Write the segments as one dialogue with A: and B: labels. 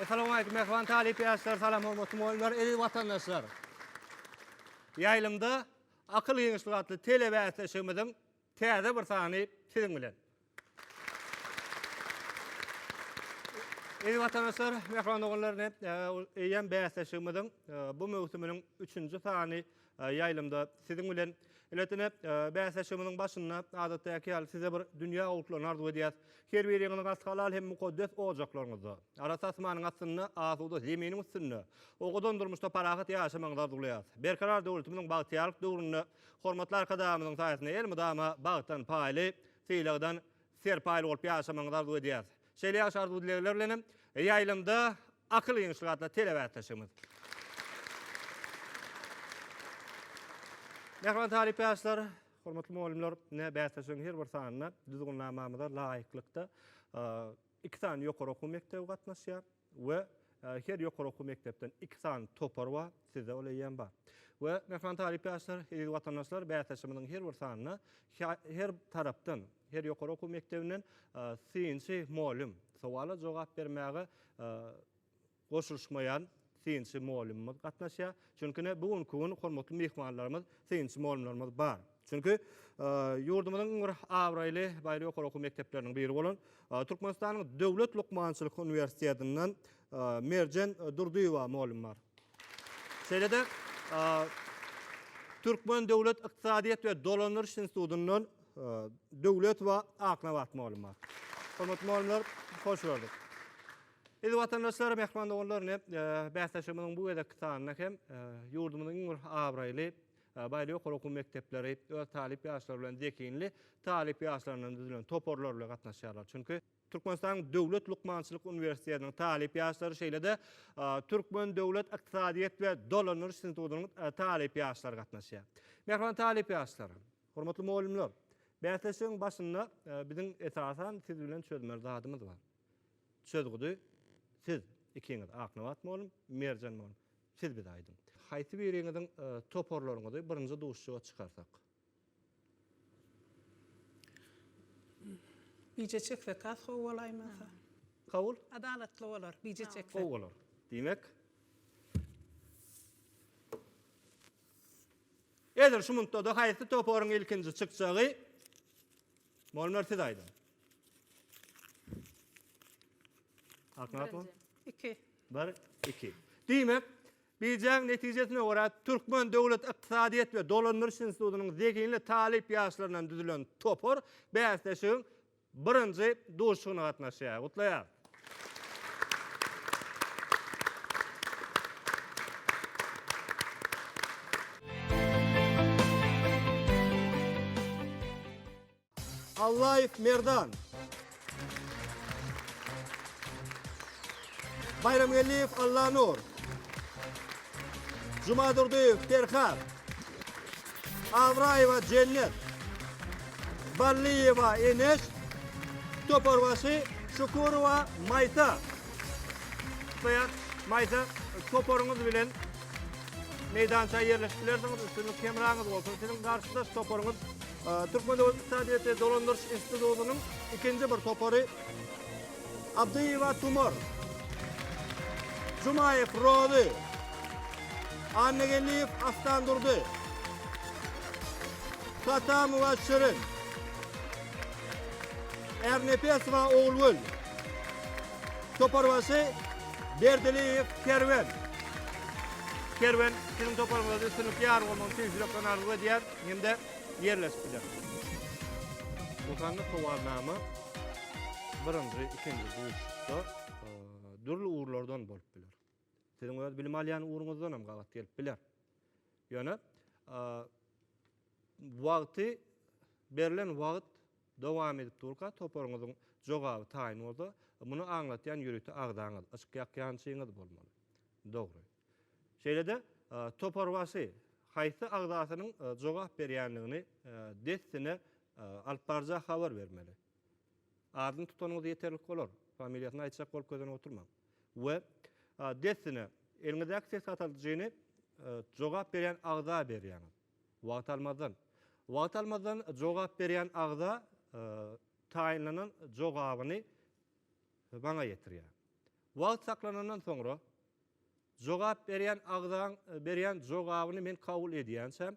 A: Essalamu aleýkum mähriban talyp ýaşlar, salam hormatly mugallymlar, eziz watandaşlar. Ýaýlymda akyl giňişligi atly telebäsleşigimiziň täze bir sany siziň bilen. Eziz watandaşlar, mähriban doganlar, eýýäm bäsleşigimiziň bu möwsüminiň üçünji sany Ýaýlymda siziň bilen Iletine bäsleşigimiziň başynda adatdaky ýaly size bir dünýä gowulyklaryny arzuw edýäs. Her biriňiziň has halal hem mukaddes ojaklaryňyzda, arassa asmanyň astynda, asuda zeminiň üstünde, owadan durmuşda parahat ýaşamagyňyzy arzuwlaýas. Berkarar döwletimiziň bagtyýarlyk döwründe hormatly Arkadagymyzyň saýasynda elmydama bagtdan paýly, sylagdan serpaýly bolup ýaşamagyňyzy arzuw edýäs. Şeýle ýagşy arzuw-dilegler bilen hem ýaýlymda akyl ýygyşlyk atly telebäsleşigimiz. Mähriban talyp ýaşlar, hormatly mugallymlar, ine bäsleşigiň her bir sanyna düzgünnamamyza laýyklykda iki sany ýokary okuw mekdebi gatnaşýar. we her ýokary okuw mekdepden iki sany topar bar, sizde ol eýýäm bar. We myhman talyp ýaşlar, eziz watandaşlar, bäsleşigimiziň her bir sanynda her tarapdan, her ýokary okuw mekdebinden synçy mugallym, sowala jogap bermäge goşulyşmaýan synçy mugallymymyz gatnaşýar. Çünki ine bu günki gün hormatly myhmanlarymyz synçy mugallymlarymyz bar. Çünki, ýurdumyzyň iň bir abraýly baýry ýokary okuw mekdepleriniň biri bolan Türkmenistanyň Döwlet lukmançylyk uniwersitetinden Merjen Durdyýewa mugallym bar. Şeýle-de, Türkmen döwlet ykdysadyýet we dolandyryş institutyndan Döwletowa Aknabat mugallym bar. Hormatly mugallymlar, hoş gördük. Eziz watandaşlar, mähriban doganlar, ine, bäsleşigimiziň bu gezekki sanynda hem ýurdumyzyň iň bir abraýly Abaýly ýokary okuw mekdepleri öz talyp ýaşlary bilen zehinli talyp ýaşlaryndan düzülen toparlar bilen gatnaşýarlar. Çünki Türkmenistanyň Döwlet lukmançylyk uniwersitetiniň talyp ýaşlary şeýle-de Türkmen döwlet ykdysadyýet we dolandyryş institutynyň talyp ýaşlary gatnaşýar. Mähriban talyp ýaşlar, hormatly mugallymlar! Bäsleşigiň başynda biziň esasan siz bilen çözmeli zadymyz bar. Çözgüdi siz ikiňiz, Aknabat mugallym, Merjen mugallym, Siz bize aýdyň. Haýsy biriňiziň toparlaryňyzy birinji duşuşyga çykarsak? Bije çeksek has gowy bolaýmasa? Kabul? Adalatly bolar, bije çeksek. Gowy bolar. Diýmek, edil şu munda-da haýsy toparyň ilkinji çykjagy Molmer siz aýdyň. Aknat ol. Birinji. Iki. Bir, iki. Diýmek, bijäň netijesine görä, Türkmen döwlet ykdysadyýet we dolandyryş institutynyň zehinli talyp ýaşlaryndan düzülen topar bäsleşigiň birinji duşuşygyna gatnaşýar. Gutlaýarys! Allaýew Merdan. Baýramgeldiýew Allanur. Jumadurdyýew Perhat, Abraýewa Jennet, Ballyýewa Eneş, Toparbaşy Şukurowa Maýsa, Saýat, Maýsa, toparyňyz bilen meýdança ýerleşip bilersiňiz, üstünlik hemraňyz bolsun. Siziň garşydaş toparyňyz Türkmen döwlet ykdysadyýeti dolandyryş institutynyň ikinji bir topary Abdyýewa Tumar, Jumaýew Rozy, Annageldiýew Astandurdy, Satamowa Şirin, Ärnepesowa Ogulgül, Toparbaşy Berdiliýew Kerwen. Kerwen, siziň toparyňyzda üstünlikli ýar bolmagyny tüýs ýürekden arzuw edýär hem-de ýerleşip biler. Doganlyk sowalyna-ma? Birinji, ikinji duşuşykda dürli ugurlardan bolup biler. Siziň öz bilim alýan ugruňyzdan hem gabat gelip biler. Ýöne wagty berlen wagt dowam edip durka toparyňyzyň jogaby taýyn bolsa, muny aňlatýan ýörite agzaňyz, yşk ýakýançyňyz bolmaly. Dogry. Şeýle-de, toparbaşy haýsy agzasynyň jogap berýändigini dessine alyp baryja habar bermeli. Adyny tutanyňyz ýeterlik bolar, familiýasyny aýtjak bolup gözlenip oturmaň. We dessine eliňizdäki ses gataldyjyny jogap berýän agza berýäňiz. Wagt almazdan. Wagt almazdan jogap berýän agza taýynlanan jogabyny maňa ýetirýär. Wagt saklanandan soňra jogap berýän agzaň berýän jogabyny men kabul edýänçäm,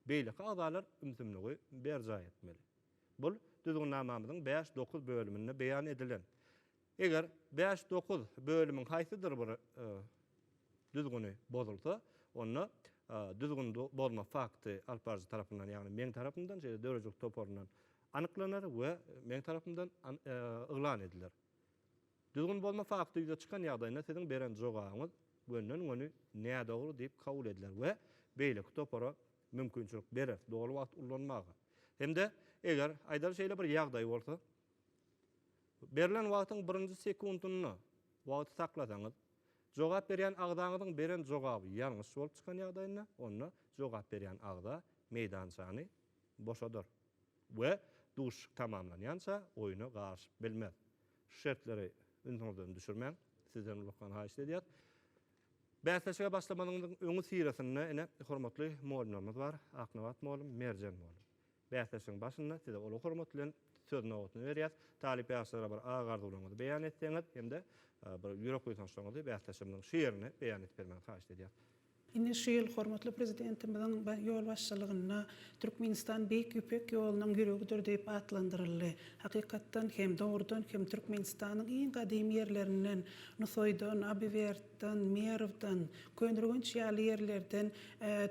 A: beýleki agzalar ümsümligi berjaý etmeli. Bu Düzgünnamamyzyň bäş, dokuz bölüminde beýan edilen. Eger bäş, dokuz bölümiň haýsydyr bir düzgüni bozulsa, onda düzgün bozma fakty alyp baryjy tarapyndan, ýagny meň tarapymdan, şeýle döredijilik toparyndan anyklanar we meň tarapymdan yglan ediler. Düzgün bozma fakty ýüze çykan ýagdaýynda siziň beren jogabyňyz gönden-göni nädogry diýip kabul ediler we beýleki topara mümkinçilik berer doly wagt ullanmaga hem-de eger, aýdaly şeýle bir ýagdaý bolsa, berlen wagtyň birinji sekuntynda wagty saklasaňyz, jogap berýän agzaňyzyň beren jogaby ýalňyş bolup çykan ýagdaýynda, onda jogap berýän agza meýdançany boşadar we duşuşyk tamamlanýança oýuna garyşyp bilmez. Şu şertleri ünsüňizden düşürmäň. Sizden ulakan haýyşt edýäs. Bäsleşige başlamanyňyzyň öňüsyrasynda ine hormatly mugallymlarymyz bar, Aknabat mugallym, Merjen mugallym. Bäsleşigiň başynda size uly hormat bilen söz nobatyny berýäs. Talyp ýaşlara bir agy-arzuwlaryňyzy beýan etseňiz hem-de bir ýürek buýsançlaryňyzy bäsleşigimiziň şu ýerinde beýan edip bermegiňizi haýyşt edýäs. Ine, şu ýyl hormatly Prezidentimiziň ýolbaşçylygynda Türkmenistan Beýik Ýüpek ýolunyň ýüregidir diýip atlandyryldy. Hakykatdan hem, dogrudan hem Türkmenistanyň iň gadymy ýerlerinden, Nusaýdan, Abiwertden, Merwden, Köneürgenç ýaly ýerlerden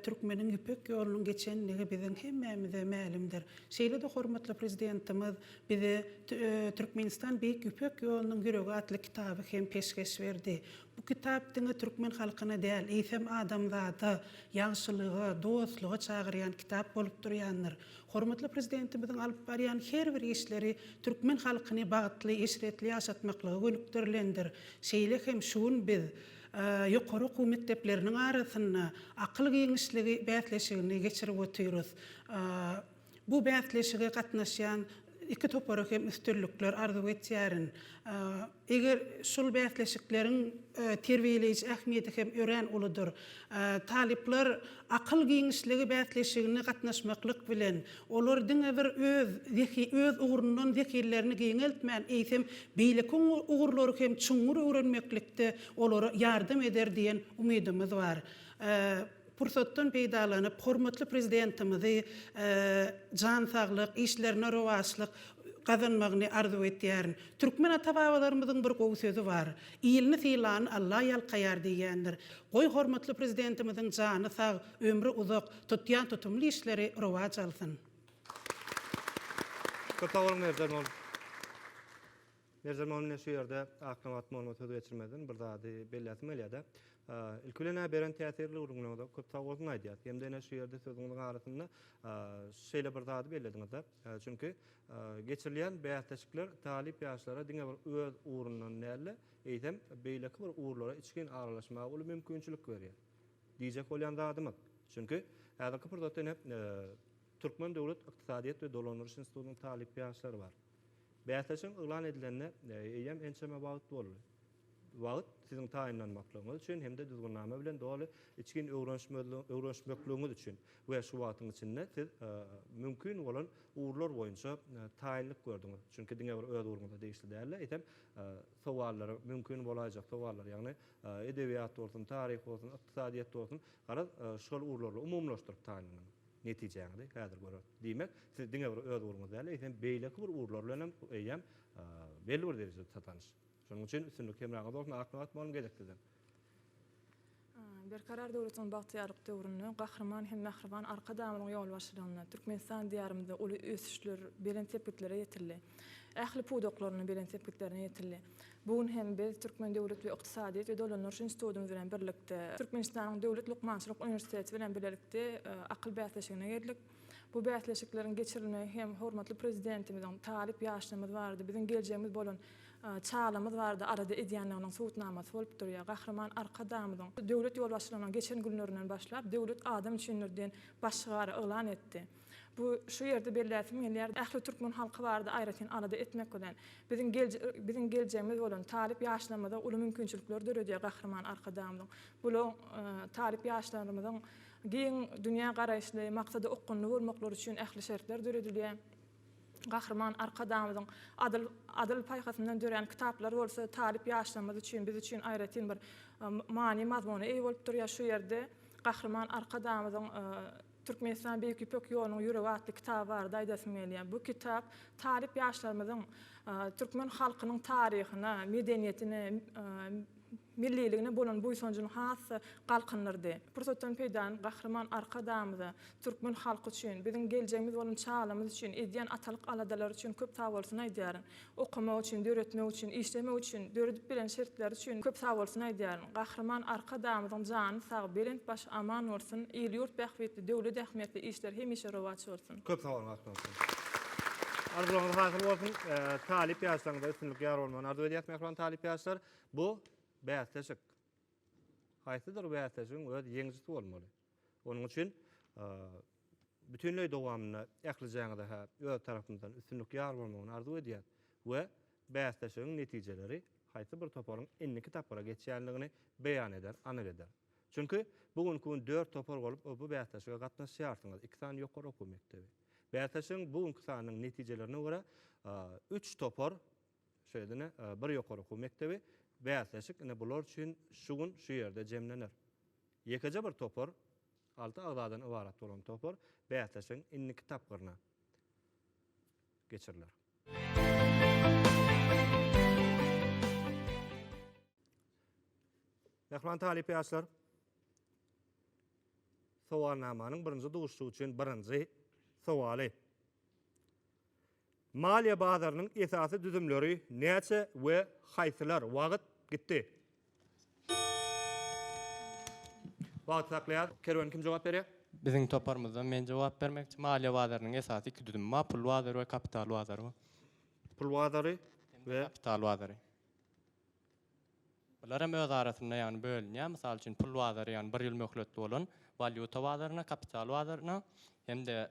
A: türkmeniň Ýüpek ýolunyň geçendigi biziň hemmämize mälimdir. Şeýle-de hormatly Prezidentimiz bize Türkmenistan Beýik Ýüpek ýolunyň ýüregi atly kitaby hem peşgeş berdi. Bu kitap diňe türkmen halkyna däl, eýsem adamzada ýagşylyga, dostluga çagyrýan kitap bolup durýandyr. Hormatly Prezidentimiziň alyp barýan her bir işleri türkmen halkyny bagtly, eşretli ýaşatmaklyga gönükdirilendir. Şeýle hem şu gün biz ýokary okuw mekdepleriniň arasynda akyl giňişligi bäsleşigini geçirip otyrys. Bu bäsleşige gatnaşýan iki topara hem üstünlikler arzuw etýärin. Eger şul bäsleşikleriň terbiýeleýji ähmiýeti hem örän uludyr. Talyplar Akyl giňişligi bäsleşigine gatnaşmaklyk bilen, olar diňe bir öz öz ugrundan zehinlerini giňeltmän, eýsem, beýleki ugurlary hem çuňňur öwrenmeklikde olara ýardam eder diýen umydymyz bar. Pursatdan peýdalanyp, hormatly Prezidentimizi jan saglyk, işlerine rowaçlyk gazanmagyny arzuw etýärin. Türkmen ata-babalarymyzyň bir gowy sözi bar, Ilini sylany Alla ýalkaýar diýýändir. Goý, hormatly Prezidentimiziň jany sag, ömri uzak, tutýan tutumly işleri rowaç alsyn! Köp sag boluň Merjen ol. Merjen Momin ine şu ýerde Aknabat Monuma söz geçirmezden bir zady belläsim gelýär-de. Ilki bilen ä beren täsirli gürrüňiňize köp sag bolsun aýdýas. Hem-de ine şu ýerde sözüňiziň arasynda şeýle bir zady bellediňiz-de, çünki geçirilýän bäsleşikler talyp ýaşlara diňe bir öz ugrundan däl-de, eýsem beýleki bir ugurlara içgin aralaşmaga uly mümkinçilik berýär. Diýjek bolýan zadymyz, çünki häzirki pursatda ine Türkmen döwlet ykdysadyýet we dolandyryş institutynyň talyp ýaşlary bar. Bäsleşigiň yglan edilenine eýýäm ençeme wagt boldy. Wagt siziň taýynlanmaklygyňyz üçin hem-de düzgünnama bilen doly içgin öwrenişmekligiňiz üçin we şu wagtyň içinde siz mümkin bolan ugurlar boýunça taýynlyk gördüňiz. Çünki diňe bir öz ugruňyza degişli däl-de, eýsem, sowallary, mümkin bolaýjak sowallary, ýagny edebiýat bolsun, taryh bolsun, ykdysadyýet bolsun, garaz, şol ugurlarla umumylaşdyryp taýynlanyň. Netijäňizi häzir göreris. Diýmek, siz diňe bir öz ugruňyz däl, eýsem, beýleki bir ugurlar bilen hem, eýýäm, belli bir derejede tatanyş. Şonuň üçin üstünlik hemraňyzda bolsun, ak nobat boluň gezek sizem! Berkarar döwletiň bagtyýarlyk döwründe, Gahryman hem mähriban Arkadagymyzyň ýolbaşçylygynda Türkmenistan diýarymyzda uly ösüşler, belent sepgitlere ýetildi. Ähli pudaklarynda belent sepgitlerine ýetildi. Bu gün hem biz Türkmen döwlet we ykdysadyýet we dolandyryş institutymyz bilen birlikde Türkmenistanyň Döwlet lukmançylyk uniwersiteti bilen bilelikde akyl bäsleşigine geldik. Bu bäsleşikleriň geçirilmegi hem hormatly Prezidentimiziň talyp ýaşlarymyz barada, biziň geljegimiz bolan çagamyz barada alada edýändiginiň subutnamasy bolup durýar. Gahryman Arkadagymyzyň döwlet ýolbaşçylygyna geçen günlerinden başlap Döwlet adam üçindir! diýen baş şygary yglan etdi. Bu şu ýerde belläsim gelýär, ähli türkmen halky barada aýratyn alada etmek bilen, biziň biziň geljegimiz bolan talyp ýaşlarymyza uly mümkinçilikler döredýär Gahryman Arkadagymyzyň bu lo talyp ýaşlarymyzyň giň dünýä garaýyşly, maksada okgunly bolmaklary üçin ähli şertler döredilýär. Gahryman Arkadagymyzyň adyl adyl paýhasyndan dörän kitaplar bolsa talyp ýaşlarymyz üçin, biz üçin aýratyn bir many-mazmuna eýe bolup durýar. Şu ýerde Gahryman Arkadagymyzyň Türkmenistan Beýik Ýüpek ýolunyň ýüregi atly kitaby barada aýdasym gelýär. Bu kitap talyp ýaşlarymyzyň türkmen halkynyň taryhyna, medeniýetine, milliligine bolan buýsanjyny has-da galkyndyrdy. Pursatdan peýdalanyp, Gahryman Arkadagymyza, türkmen halky üçin, biziň geljegimiz bolan çagalarymyz üçin edýän atalyk aladalary üçin köp sagbolsun aýdýaryn. Okamak üçin, döretmek üçin, işlemek üçin döredip beren şertleri üçin köp sagbolsun aýdýaryn. Gahryman Arkadagymyzyň jany sag, belent başy aman bolsun, il-ýurt bähbitli, döwlet ähmiýetli işler hemişe rowaç bolsun! Köp sag boluň Akmyrat aga. Arzuwlaryňyz hasyl bolsun. Talyp ýaşlaryňyza üstünlik ýar bolmagyny arzuw edýäs mähriban talyp ýaşlar. Bu bäsleşik. Haýsydyr bäsleşigiň öz ýeňijisi bolmaly. Onuň üçin bütinleý dowamynda ählijäňize-hä öz tarapymyzdan üstünlik ýar bolmagyny arzuw edýäs we bäsleşigiň netijeleri haýsy bir toparyň indiki tapgyra geçýändigini beýan eder, anyk eder. Çünki, bu günki gün dört topar bolup bu bäsleşige gatnaşýarsyňyz, iki sany ýokary okuw mekdebi. Bäsleşigiň bu günki sanynyň netijelerine görä, üç topar Şeýle-de ine, bir ýokary okuw mekdebi, bäsleşik ine bular üçin şu gün şu ýerde jemlener. Ýekeje bir topar, alty agzadan ybarat bolan topar bäsleşigiň indiki tapgyryna geçiriler. Mähriban talyp ýaşlar, sowalnamanyň birinji duşuşygy üçin birinji sowaly. Maliýe bazarynyň esasy düzümleri näçe we haýsylar? Wagt gitdi. Wagty saklaýas. Kerwen kim jogap berýär? Biziň toparymyzdan men jogap bermekçi. Maliýe bazarynyň esasy iki düzümi bar, pul bazary we kapital bazary bar. Pul bazary we. Kapital bazary. Bular hem öz arasynda ýagny bölünýär. Mysal üçin pul bazary ýagny bir ýyl möhletli bolan walýuta bazaryna, kapital bazaryna hem-de.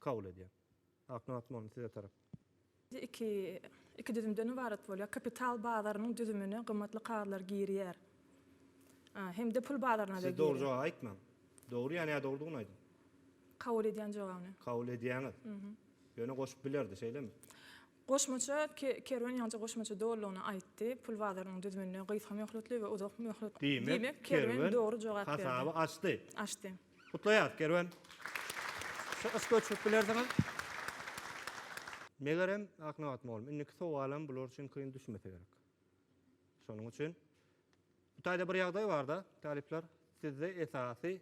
A: kabul edýär. Akdyň mazmuny size tarap. Iki iki düzümden ybarat bolýar. Kapital bazarynyň düzümine gymmatly kagyzlar girýär. Hem-de pul bazaryna-da girýär. Siz dogry jogaby aýtmaň. Dogry ýa nädogrydygyny aýdyň. Kabul edýän jogabyny. Kabul edýäňiz. Ýöne goşup bilerdi, şeýlemi? Goşmaça Kerwen ýaňja goşmaça dolulygyna aýtdy, pul bazarynyň düzüminde gysga möhletli we uzak möhletli. Diýmek, Kerwen dogry jogap berdi. Hasaby açdy. Açdy. Gutlaýarys, Kerwen. Şu yş göçürip bilersiňiz. Megerem, Aknabat mugallym, indiki sowalam bular üçin kyn düşmese gerek. Şonuň üçin bu taýda bir ýagdaý bar-da, talyplar, sizde esasy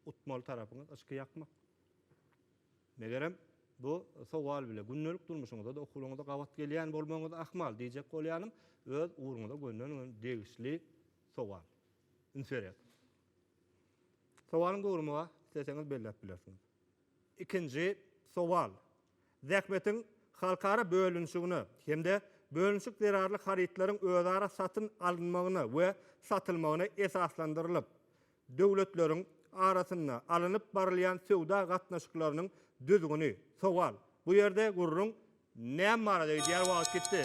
A: utmaly tarapyňyz yşky ýakmak. Megerem, bu sowal bile gündelik durmuşyňyza-da, okuwlaryňyza gabat gelýän bolmagyňyz ahmal diýjek bolýanym, öz ugruňyza gönderilen degişli sowal. Üns berýäs. Sowalyň dogrumy-a, isleseňiz belläp bilersiňiz. Ikinji sowal. Zähmetiň halkara bölünişigine hem-de bölünişik zerarly harytlaryň özara satyn alynmagyna we satylmagyna esaslandyrylyp, Döwletleriň arasynda alnyp barylýan söwda gatnaşyklarynyň düzgüni, sowal, bu ýerde gürrüň näme barada gidýär, wagt gitdi.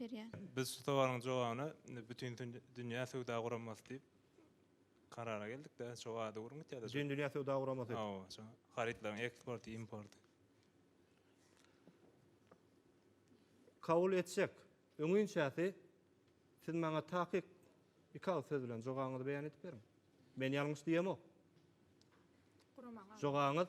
A: berýär. Biz şu sowalyň jogabyna Bütindünýä Söwda Guramasy diýip karara geldik-de, şo ady guruň gitýär-de. Bütindünýä Söwda Guramasy. Hawa, şo harytlaryň eksporty, importy. Kabul etsek, öňinçäsi siz maňa takyk iki agyz söz bilen jogabyňyzy beýan edip beriň. Men ýalňyş diýemok. Guramaň. Jogabyňyz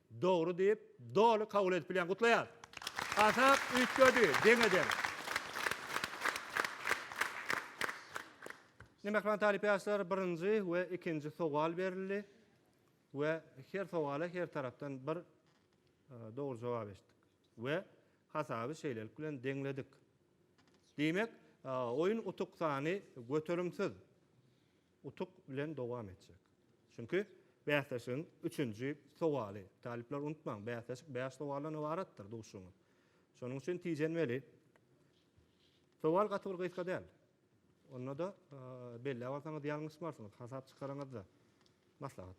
A: Dogry diýip, doly kabul edip bilýän. Gutlaýas! Hasap üýtgedi, deň-edeň. Indi mähriban talyp ýaşlar birinji we ikinji sowal berildi we her sowala her tarapdan bir dogry jogap eşitdik we hasaby şeýlelik bilen deňledik. Diýmek, oýun utuk sany göterimsiz. utuk bilen dowam etjek. Çünki bäsleşigiň üçünji sowaly, talyplar unutmaň, bäsleşik bäş sowaldan ybaratdyr, duşuňyz. Şonuň üçin tijenmeli. Sowal gaty bir gysga däl. Onda-da belläp alsaňyz ýalňyşmarsyňyz, hasap çykaraňyzda. Maslahat.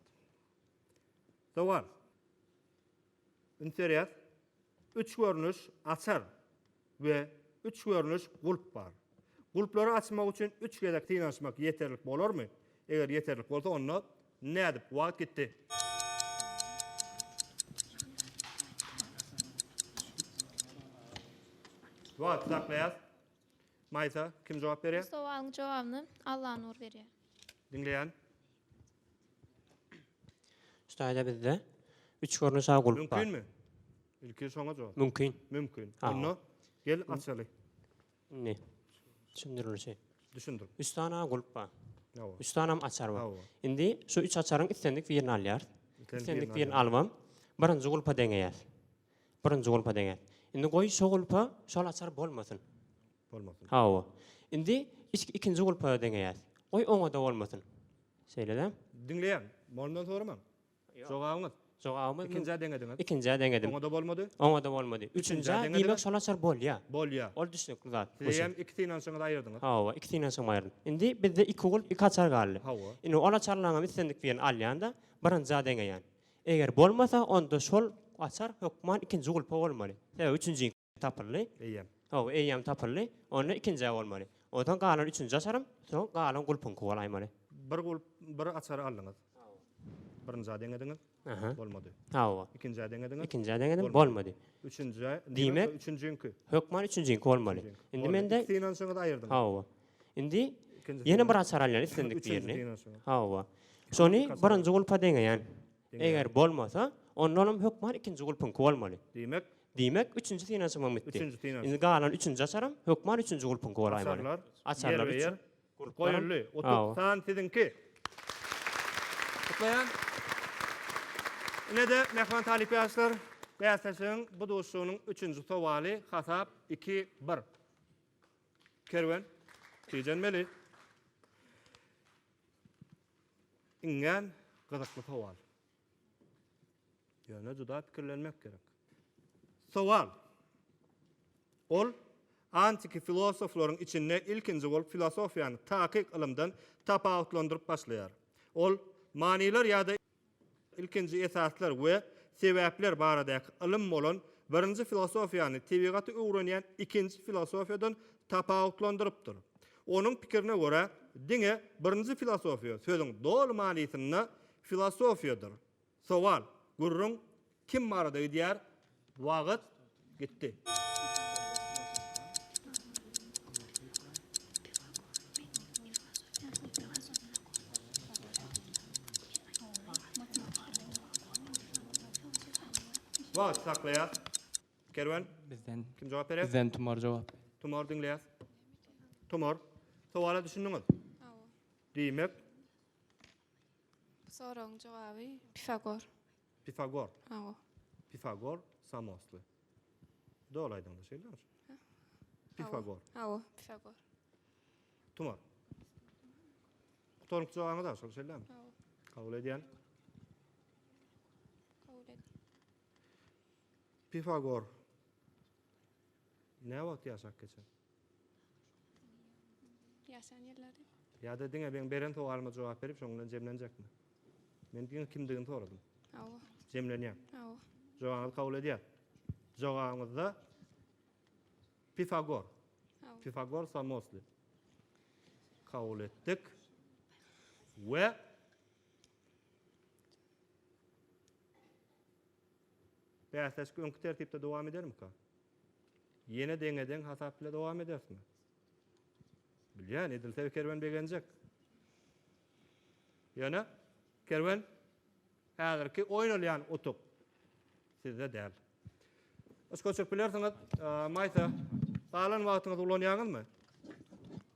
A: Sowal. Interes, Üç görnüş açar we üç görnüş gulp bar. Gulplary açmak üçin üç gezek synanyşmak ýeterlik bolarmy? Eger ýeterlik bolsa, onda nädip? Wagt gitdi. Wagty saklaýas. Maýsa, kim jogap berýär? Bu sowalyň jogabyny Allanur berýär. Diňleýän. Şu taýda bizde üç görnüş aw gulp bar. Mümkinmi? Ilki şoňa jogap. Mümkin. Mümkin. Aw. Onda gel açaly. Indi düşündirilişi. Düşündir. Üç sany aw gulp bar. Awa. Üç sany hem açar bar. Awa. Indi şu üç açaryň islendik birini alýarys. Islendik Islendik birini birini alybam birinji gulpa deňeýäris. Birinji gulpa deňäris. Indi goý şu gulpa şol açar bolmasyn. Bolmasyn. Hawa. Indi içki ikinji gulpa deňeýäs. Goý oňa-da bolmasyn. Şeýle-dä. Diňleýän. Molumdan soramaň. Jogabyňyz. Jogabymyz. Ikinjä deňediňiz. Ikinjä deňedim. Oňa-da bolmady. Oňa-da bolmady. Üçünjä diýmek şol açar bolýar. Bolýar. Ol düşnükli zat. Sizem iki synanyşyňyzy aýyrdyňyz. Hawa, iki synanyşygym aýyrdym. Indi bizde iki gulp, iki açar galdy. Hawa. Indi ol açarlaryňam islendik birini alýan-da, birinjä deňeýän. Eger bolmasa, onda şol açar hökman ikinji gulpa bolmaly. Sebäbi üçünji. Tapyldy. Eýýäm. Hawa, eýýäm tapyldy. Onda ikinjä bolmaly. Onsoň galan üçünji açarym, soň galan gulpuňky bolaýmaly. Bir gulp, bir açary aldyňyz. Birinjä deňediňiz. Aha. Bolmady. Hawa. Ikinjä deňediňiz. Ikinjä deňedim, bolmady. Üçünjä, diýmek, üçünjiňki. Hökman üçünjiňki bolmaly. Indi mende. Iki synanyşyňyzy aýyrdyňyz. Hawa. Indi ýene bir açar alýan islendik birini. Hawa. Şony birinji gulpa deňeýän. Eger bolmasa, onda onuň hökman ikinji gulpuňky bolmaly. Diýmek, Diýmek, üçünji synanyşymam bitdi. Üçünji synanyşym. Indi galan üçünji açaram, hökman üçünji gulpuňky bolaýmaly. Açarlar. Açarlar Ýerbe-ýer. üçin. Gulplaram. Goýuldy. Hawa. Utuk san siziňki. Gutlaýan. Ine-de, mähriban talyp ýaşlar, bäsleşigiň bu duşuşygynyň üçünji sowaly, hasap iki, bir. Kerwen, tijenmeli. Iňňän gyzykly sowal. Ýöne juda pikirlenmek gerek. Sowal. Ol antiki filosoflaryň içinde ilkinji bolup filosofiýany takyk ylymdan tapawutlandyryp başlaýar. Ol manylar ýa-da ilkinji esaslar we sebäpler baradaky ylym bolan birinji filosofiýany tebigaty öwrenýän ikinji filosofiýadan tapawutlandyrypdyr. Onuň pikirine görä, diňe birinji filosofiýa sözüň doly manysynda filosofiýadyr. Sowal, gürrüň kim barada gidýär? Wagt gitdi. Wagt saklaýar. Kerwen. Bizden. Kim jogap berer? Bizden Tumar jogap berer. Tumar diňleýäs. Tumar. Sowala düşündiňiz? Hawa. Diýmek. Bu soragyň jogaby Pifagor. Pifagor. Hawa. Pifagor samostly. Doly aýdyňda şeýle. Pifagor. Hawa, Pifagor. Tumar. Gutaryňky jogabyňyz-a şol şeýle. Hawa. Kabul edýän. Kabul edýän. Pifagor nä wagt ýaşap geçen? Ýaşan ýyllary. Ýa-da diňe meň beren sowalyma jogap berip, şoň bilen jemlenjekmi? Men diňe kimdigini soradym. Hawa. Jemlenýär. Hawa. Jogabyňyzy kabul edýär. Jogabyňyzda Pifagor. Hawa. Pifagor Samosly. Kabul etdik. We Bäsleşik öňki tertipde dowam edermika? Ýene deňe-deň hasap bile dowam edersmi? Bilýän, edilse Kerwen begenjek. Ýöne Kerwen häzirki oýnalýan utuk sizde däl. Yş göçürip bilersiňiz, Maýsa. Galan wagtyňyzy ulanýaňyzmy?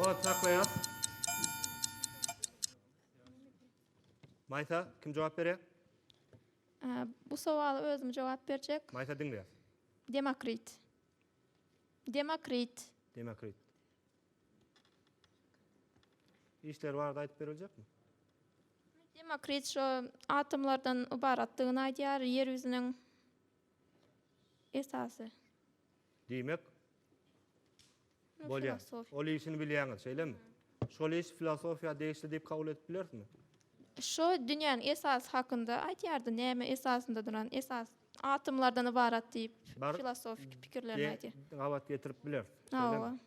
A: Wagt saklaýar. Maýsa, kim jogap berýär? Bu sowala özüm jogap berjek. Maýsa diňleýär. Demokrit. Demokrit. Demokrit. Işleri barada aýdyp beriljekmi? Demokrit şu atomlardan ybaratdygyny aýdýar, ýer ýüzüniň esasy. Diýmek, Bolýar. Ol işini bilýäňiz, şeýlemi? Şol iş filosofiýa degişli diýip kabul edip bilerismi? Şu dünýäniň esasy hakynda aýdýardy, näme esasynda duran, esas atomlardan ybarat diýip filosofiki pikirlerini aýdýar. Gabat getirip bileris, şeýlemi?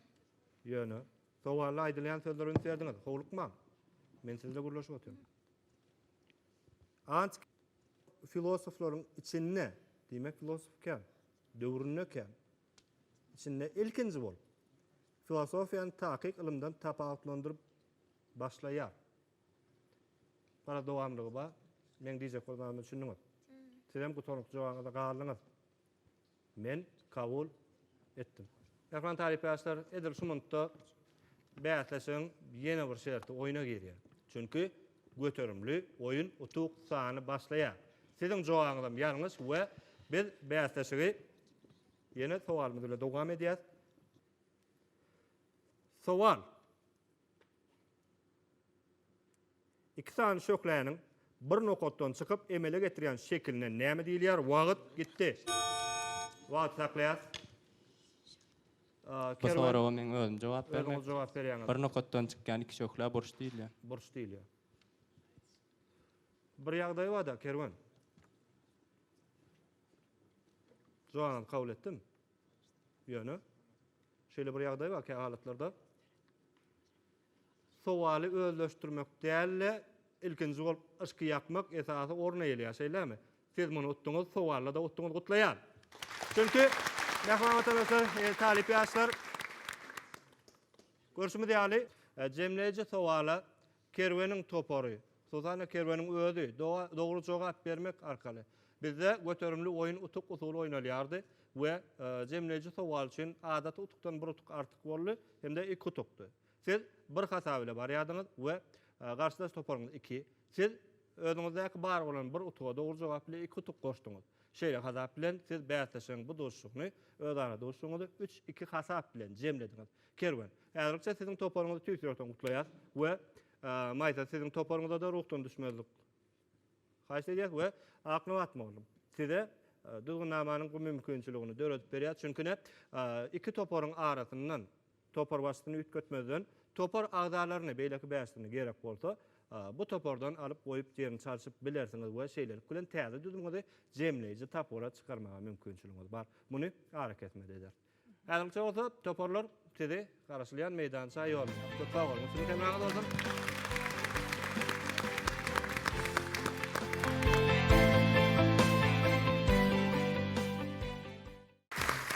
A: Ýöne, sowalda aýdylýan sözlere üns berdiňiz, howlukmaň. Men siz bilen gürleşip otyryn. Antik filosoflaryň içinde, diýmek filosof kän, döwründe kän, Içinde ilkinji bolup, filosofiýany takyk ylymdan tapawutlandyryp başlaýar. Gara dowamlygy bar. Meň diýjek bolanyma düşündiňiz. Sizem gutaryňky jogabyňyzda galdyňyz. Men kabul etdim. Mähriban talypýaşlar, edil şu munutda bäsleşigiň ýene bir şerti oýna girýär. Çünki göterimli oýun utuk sany başlaýar. Siziň jogabyňyzam ýalňyş we biz bäsleşigi Ýene sowalymyz bilen dowam edýäs. Sowal. Iki sany şöhläniň bir nokatdan çykyp emele getirýän şekiline näme diýilýär? Wagt gitdi. Wagt saklaýas. Bu soraga men özüm jogap bermek. Özüňiz jogap berýäňiz. Bir nokatdan çykýan iki şöhlä burç diýilýär. Burç diýilýär. Bir ýagdaý bar-da, Kerwen. Jogabyňyzy kabul etdim. Ýöne, şeýle bir ýagdaý bar, kä halatlarda sowaly özleşdirmek däl-de, ilkinji bolup yşky ýakmak esasy orun eýeleýär, şeýlemi? Siz muny utduňyz, sowalda-da utduňyz, gutlaýan! Çünki, mähriban watandaşlar, talyp ýaşlar, görşümiz ýaly, jemleýji sowala Kerweniň topary, hususan-da Kerweniň özi dogry jogap bermek arkaly, bizde göterimli oýun utuk usuly oýnalýardy we jemleýji sowal üçin adaty utukdan bir utuk artyk boldy hem-de iki utukdy. Siz bir hasap ile barýardyňyz we garşydaş toparyňyz iki. Siz özüňizdäki bar bolan bir utuga dogry jogap ile iki utuk goşduňyz. Şeýle hasap bilen siz bäsleşigiň bu duşuşygyny, özara duşuşygyňyzy üç-iki hasap bilen jemlediňiz. Kerwen. Ägilikçe siziň toparyňyzy tüýs ýürekden gutlaýas we Maýsa siziň toparyňyzada ruhdan düşmezlik haýyş edýäs we Aknabat mugallym size Düzgünnamanyň bu mümkinçiligini döredip berýär çünki ne iki toparyň arasyndan topar başysyny üýtgetmezden topar agzalaryny beýleki bäşisini gerek bolsa bu topardan alyp goýup jerini çalşyp bilersiňiz we şeýlelik bilen täze düzümiňizi jemleýji tapgyra çykarmaga mümkinçiligiňiz bar muny arakesmede eder. Häzirlikçe bolsa toparlar sizi garaşylýan meýdança ýollaýar. Köp sag boluň. Üstünlik emraňyz bolsun.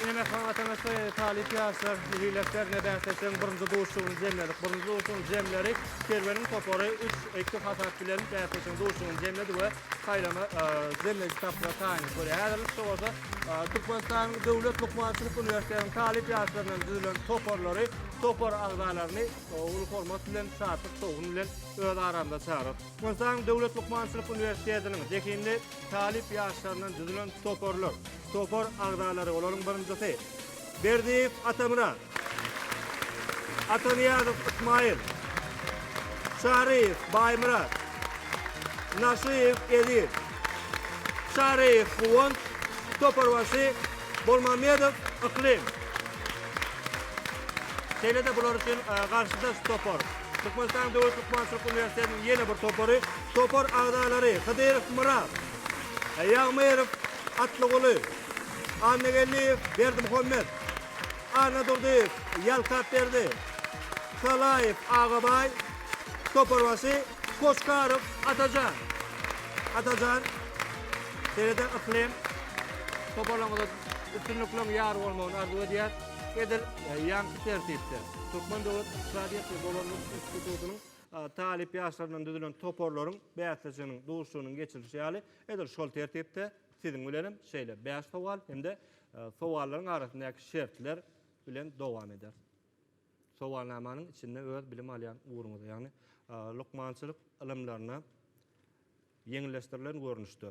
A: Ine Mähriban Watandaşlar ýene talyp ýaşlar Heleklerne bäsleşigiň birinji duşuşygyny jemledik. Birinji duşuşygyň jemleri Kerweniň topary üç, iki hasap bilen bäsleşigiň duşuşygyny jemledi we saýlama jemleýji tapgyra taýynlyk görýär. Häzirlikçe bolsa Türkmenistanyň Döwlet lukmançylyk uniwersitetiniň talyp ýaşlaryndan düzülen toparlary topar agzalaryny uly hormat bilen, şatlyk şowhun bilen öz aramyza çagyryp, Türkmenistanyň Döwlet lukmançylyk uniwersitetiniň zehinli talyp ýaşlaryndan düzülen toparlar, topar agzalary, olaryň birinjisi, Berdiýew Atamyrat. Atanyýazow Ysmaýyl. Çaryýew Baýmyrat. Naşyýew Eziz. Çaryýew Guwanç. Toparbaşy Bolmamedow Yklym. Şeýle-de bular üçin garşydaş topar, Türkmenistanyň Döwlet lukmançylyk uniwersitetiniň ýene bir topary, topar agzalary, Hydyrow Myrat, Ýagmyrow Atlyguly, Annageldiýew, Berdimuhammet, Annadurdyýew, Ýalkapberdi, Salaýew, Agabaý, Toparbaşy, Koçkarow, Atajan, Atajan, Sereder, Yklym, toparlaryňyza üstünlikleriň ýar bolmagyny arzuw edýär. Edil ýaňky tertipde Türkmen döwlet ykdysadyýet we dolandyryş institutynyň talyp ýaşlaryndan düzülen toparlaryň bäsleşiginiň duşuşygynyň geçirilişi ýaly, edil şol tertipde, Siziň bilen hem şeýle bäş sowal hem-de sowallaryň arasyndaky şertler bilen dowam ederis. Sowalnamanyň içinde öz bilim alýan ugruňyza, ýagny lukmançylyk ylymlaryna ýeňilleşdirilen görnüşde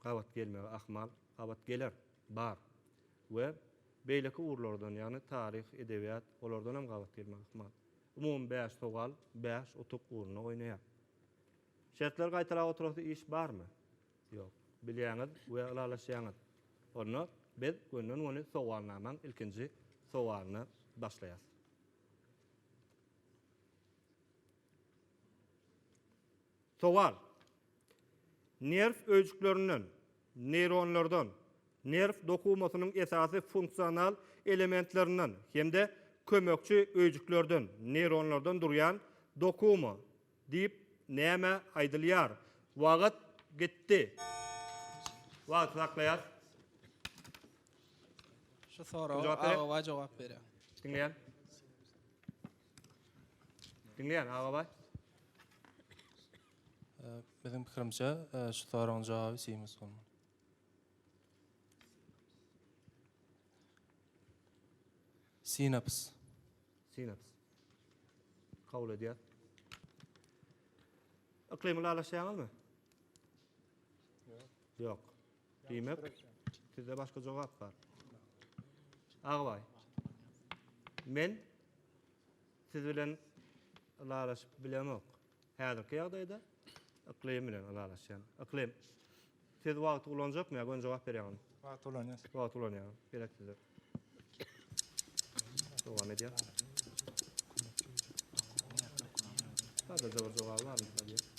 A: gabat gelmegi ahmal, gabat geler, bar we beýleki ugurlardan, ýagny taryh, edebiýat, olardan hem gabat gelmegi ahmal. Umumy bäş sowal bäş utuk ugruna oýnaýar. Şertleri gaýtalap oturasy iş barmy? Ýok. Bilýäňiz we ylalaşýaňyz. Onda biz gönden-göni sowalnamaň ilkinji sowalyny başlaýas. Sowal. Nerw öýjüklerinden, neýronlardan, nerw dokumasynyň esasy funksional elementlerinden hem-de kömekçi öýjüklerden, neýronlardan durýan dokuma, Diýip näme aýdylýar? Wagt gitdi. Wagty saklaýas. Şu soraga Agabaý jogap berýär. Diňleýän. Diňleýän Agabaý. Biziň pikirimçe, şu soragyň jogaby sinus bolmaly. Sinaps. Synaps. Kabul edýär. Yklymy lalaşýaňyzmy? Ýok. Diýmek, sizde başga jogap bar. Agbaý. Men siz bilen lalaşyp bilemok. Häzirki ýagdaýda yklym bilen ylalaşýan. Yklym, siz wagty ulanjakmy ýa göni jogap berýäňizmi? Wagty ulanýas. Wagty ulanýaňyz. Gerek size. Dowam edýär. Sadaja bir jogaby bar mysal diýip.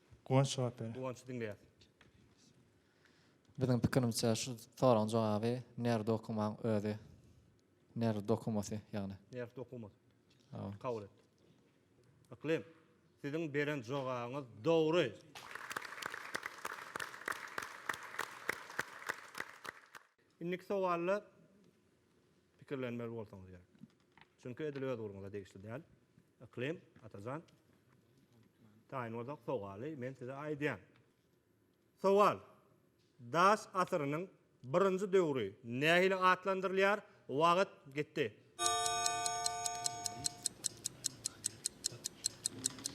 A: Guwanç jogap ber. Guwanç diňleýäs. Biziň pikirimçe şu soragyň jogaby nerw dokumaň özi. Nerw dokumasy ýagny. Nerw dokumasy. Hawa. Kabul etdik. Yklym, siziň beren jogabyňyz dogry. Indiki sowalda Pikirlenmeli bolsaňyz gerek. Çünki edil öz ugruňyza degişli däl. Yklym, Atajan. Taýyn bolsak sowaly men size aýdýan. Sowal. Daş asyrynyň birinji döwri nähili atlandyrylýar? Wagyt gitdi.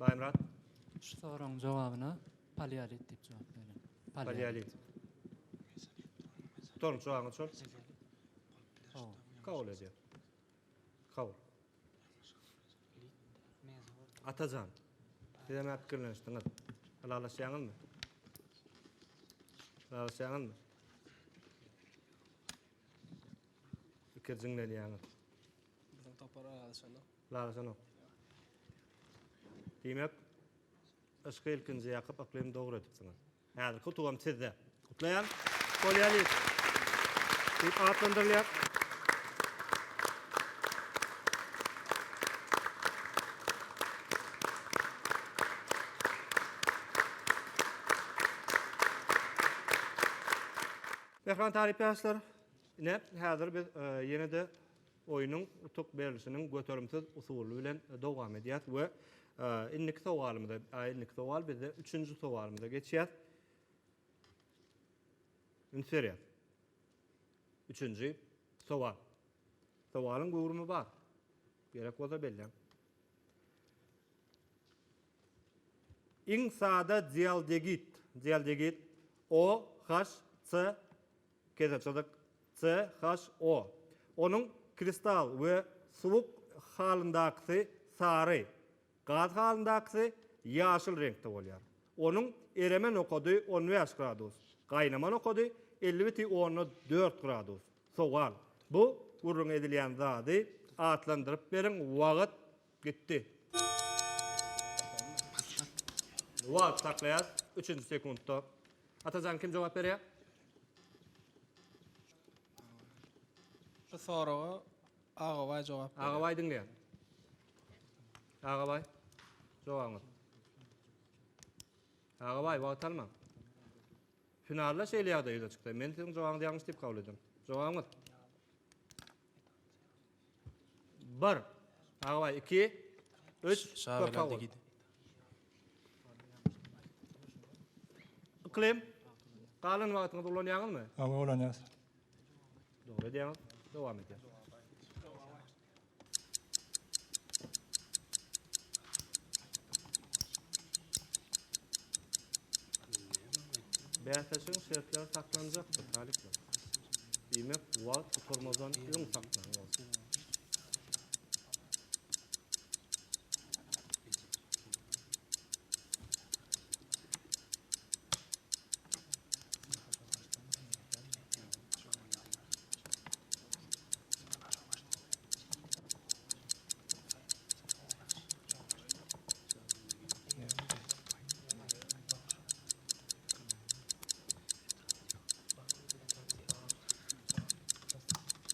A: Baýmyrat. Şu soragyň jogabyna paleolit diýip jogap beriň. Paleolit. Toň jogabyň şol. Kabul edýär. Kabul. Atajan. Siz näme pikirlenişdiňiz? Ylalaşýaňyzmy? Ylalaşýaňyzmy? Pikir jiňlenýäňiz. Biziň topar ylalaşanok. Lalajanok. Diýmek, yşky ilkinji ýakyp yklymy dogry edipsiňiz. Häzirki utugam sizde. Gutlaýan. Polýalit diýip atlandyrylýar. Mähriban talyp ýaşlar, ine, häzir biz ýene-de Oýnuň utuk berlişiniň göterimsiz usuly bilen dowam edýäs we indiki sowalymyza, a indiki sowal bizde üçünji sowalymyza geçýäs. Üns berýäs. Üçünji sowal. Sowalyň göwrümi bar. Gerek bolsa belläň. Iň sada dialdegid, dialdegid O, H, C, Keseçyzyk, CHO. Onuň kristal we suwuk halyndakysy sary, gaz halyndakysy ýaşyl reňkde bolýar. Onuň ereme nokady on bäş gradus, gaýnama nokady elli biti onda dört gradus. Sowal, Bu gürrüňi edilýän zady atlandyryp beriň, wagt. Gitdi. Wagt saklaýas. Üçünji sekuntda. Atajan kim jogap berýär? Şu soraga Agabaý jogap berýär. Agabaý diňleýär. Agabaý. Jogabyňyz. Agabaý wagt almaň. Finalda şeýle ýagdaý ýüze çykdy. Men siziň jogabyňyzy ýalňyş diýip kabul edýän. Jogabyňyz. Bir. Agabay iki. Üç. Şa Köp sag bol. Yklym. Galan wagtyňyzy ulanýaňyzmy? Hawa ulanýas. Dogry edýäňiz. Dowam edýär. Bäsleşigiň şertleri saklanjakdyr, talyplar. Diýmek, wagt gutarmazdan öň saklaň bolsun.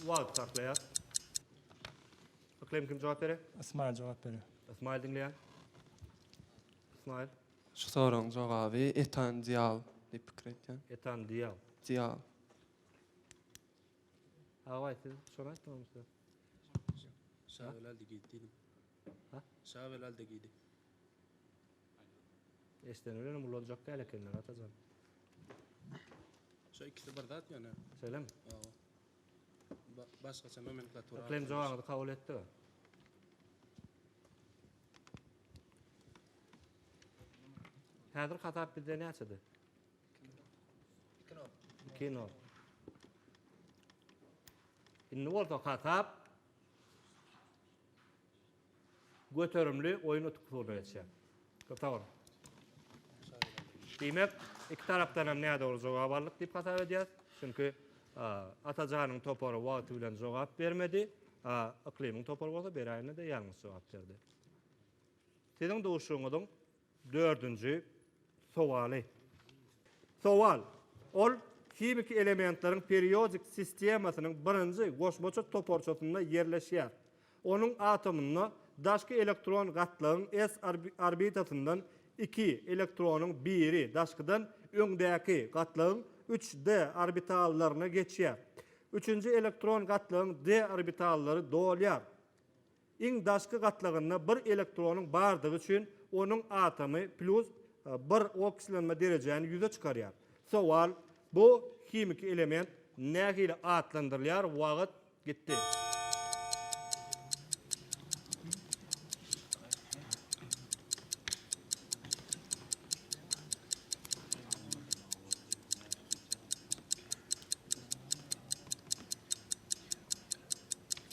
A: Wagt saklaýar. Bakalım kim jogap berer? Ismail jogap berer. Ismail diňleýär. Ismail. Şu soragyň jogaby etan dial diýip pikir etýän. Etan dial. Dial. Agay siz şony aýtdyňyzmy? Şaýolal diýip diýdim. Şavel Aldegidi. Eşden ölenem ulanjak däl ekenler Atajan. Şo ikisi bir zat ýöne. Şeýlemi? Hawa. Ba başgaça nomenklatura. Yklym jogaňyzy kabul etdi. Häzir hasap bizde näçede? Iki nol. Iki nol. Indi bolsa hasap Göterimli oýun utuklygna geçýär. Gysagyryn. Diýmek, iki tarapdan hem nädogry jogap aldyk diýip hasap edýäris. Çünki Atajanyň topary wagty bilen jogap bermedi, a Yklymyň topary bolsa beräýende-de ýalňyş jogap berdi. Siziň duşuňyzyň Dördünji sowaly. Sowal, Ol himiki elementleriň periodik sistemasynyň birinji goşmaça toparçasynda ýerleşýär. Onuň atomynda daşky elektron gatlagyň s orbitasyndan iki elektronyň biri daşkydan öňdäki gatlagyň üç d orbitallaryna geçýär. Üçünji elektron gatlagyň d orbitallary dolýar. Iň daşky gatlagynda bir elektronyň bardygy üçin onuň atomy plýus bir okslenme derejäni ýüze çykarýar. Sowal, Bu himiki element nähili atlandyrylýar? Wagt gitdi.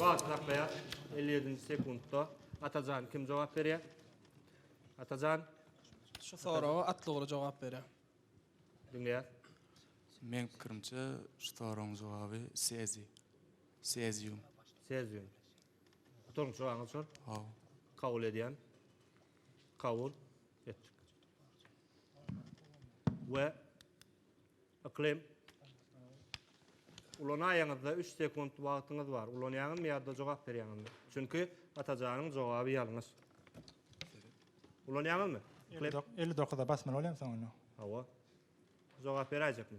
A: Wagt akýar. 57-nji sekuntda Atajan kim jogap berýär? Atajan. Şu soraga Atlyguly jogap berýär. Diňleýär. Meň pikirimçe şu soragyň jogaby seziý. Sezium. Sezium. Gutarmy çyragyňyz çor? Haw. Kabul edýän. Kabul etdik. We yklim ulanaýaňyzda 3 sekunt wagtyňyz bar. Ulanýaňyzmy ýa-da jogap berýäňizmi? Çünki Atajanyň jogaby ýalňyş. Ulanýaňyzmy? Yklim? 59-a basmaly bolýarmy soň onda? Hawa. Jogap beräýjekmi?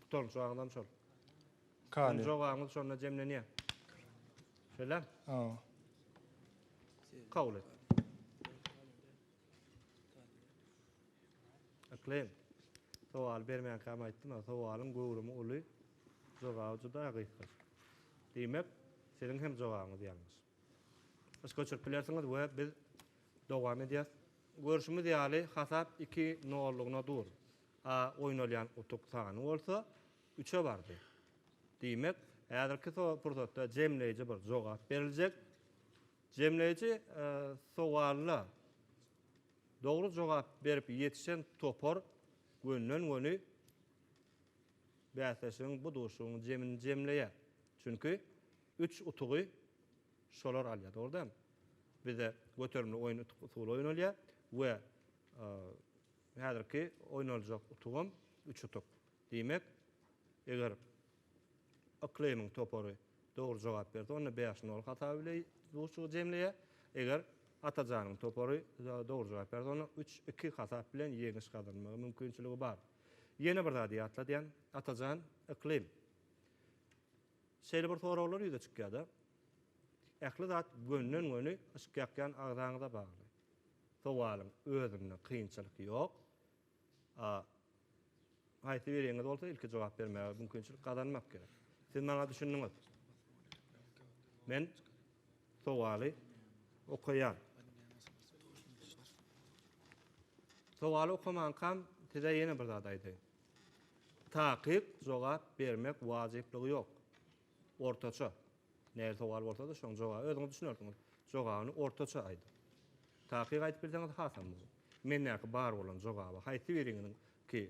A: Gutaryn jogaňyzam şol. Kale. Jogaňyz şonda jemlenýär. Şeýlem. Aw. Kabul et. Aklem. Sowal bermän kam aýtdym, a sowalyň göwrümi uly, jogaby juda gysga. Diýmek, siziň hem jogaňyz ýalňyş. Iş göçürip bilersiňiz we biz dowam edýäs. Görşümiz ýaly, hasap iki nollugyna dur. A oýnalýan utuk sany bolsa üçe bardy. Diýmek, häzirki pursatda jemleýji bir jogap beriljek. Jemleýji sowalyna dogry jogap berip ýetişen topar gönden-göni bäsleşigiň bu duşuň jemini jemleýär. Çünki üç utugy şolar alýar, dogry dälmi? Bizde göterimli oýun utuk usuly oýnalýar we Häzirki oýnaljak utugam üç utuk. Diýmek, eger Yklymyň topary dogry jogap berse, onda bäş nol hasap ile duşuşygy jemleýär. Eger Atajanyň topary dogry jogap berse, onda üç iki hasap bilen ýeňiş gazanmaga mümkinçiligi bar. Ýene bir zady ýatladýan, Atajan, Yklym, şeýle bir soraglar ýüze çykýar-da, ähli zat gönden-göni yşk ýakýan agzaňyza bagly. Sowalyň özünde kynçylyk ýok. A. Haýsy biriňiz bolsa ilki jogap bermäge mümkinçilik gazanmak gerek. Siz maňa düşündiňiz. Men sowaly okaýan. Sowaly okamankam size ýene bir zat aýdaýyn. Takyk jogap bermek wajyplygy ýok. Ortaça. Nähili sowal bolsa-da, şoň jogaby özüňiz düşünersiňiz. Jogabyny ortaça aýdyň. Takyk aýdyp bilseňiz hasam gowy. Mendäki bar bolan jogaby haýsy biriňiňki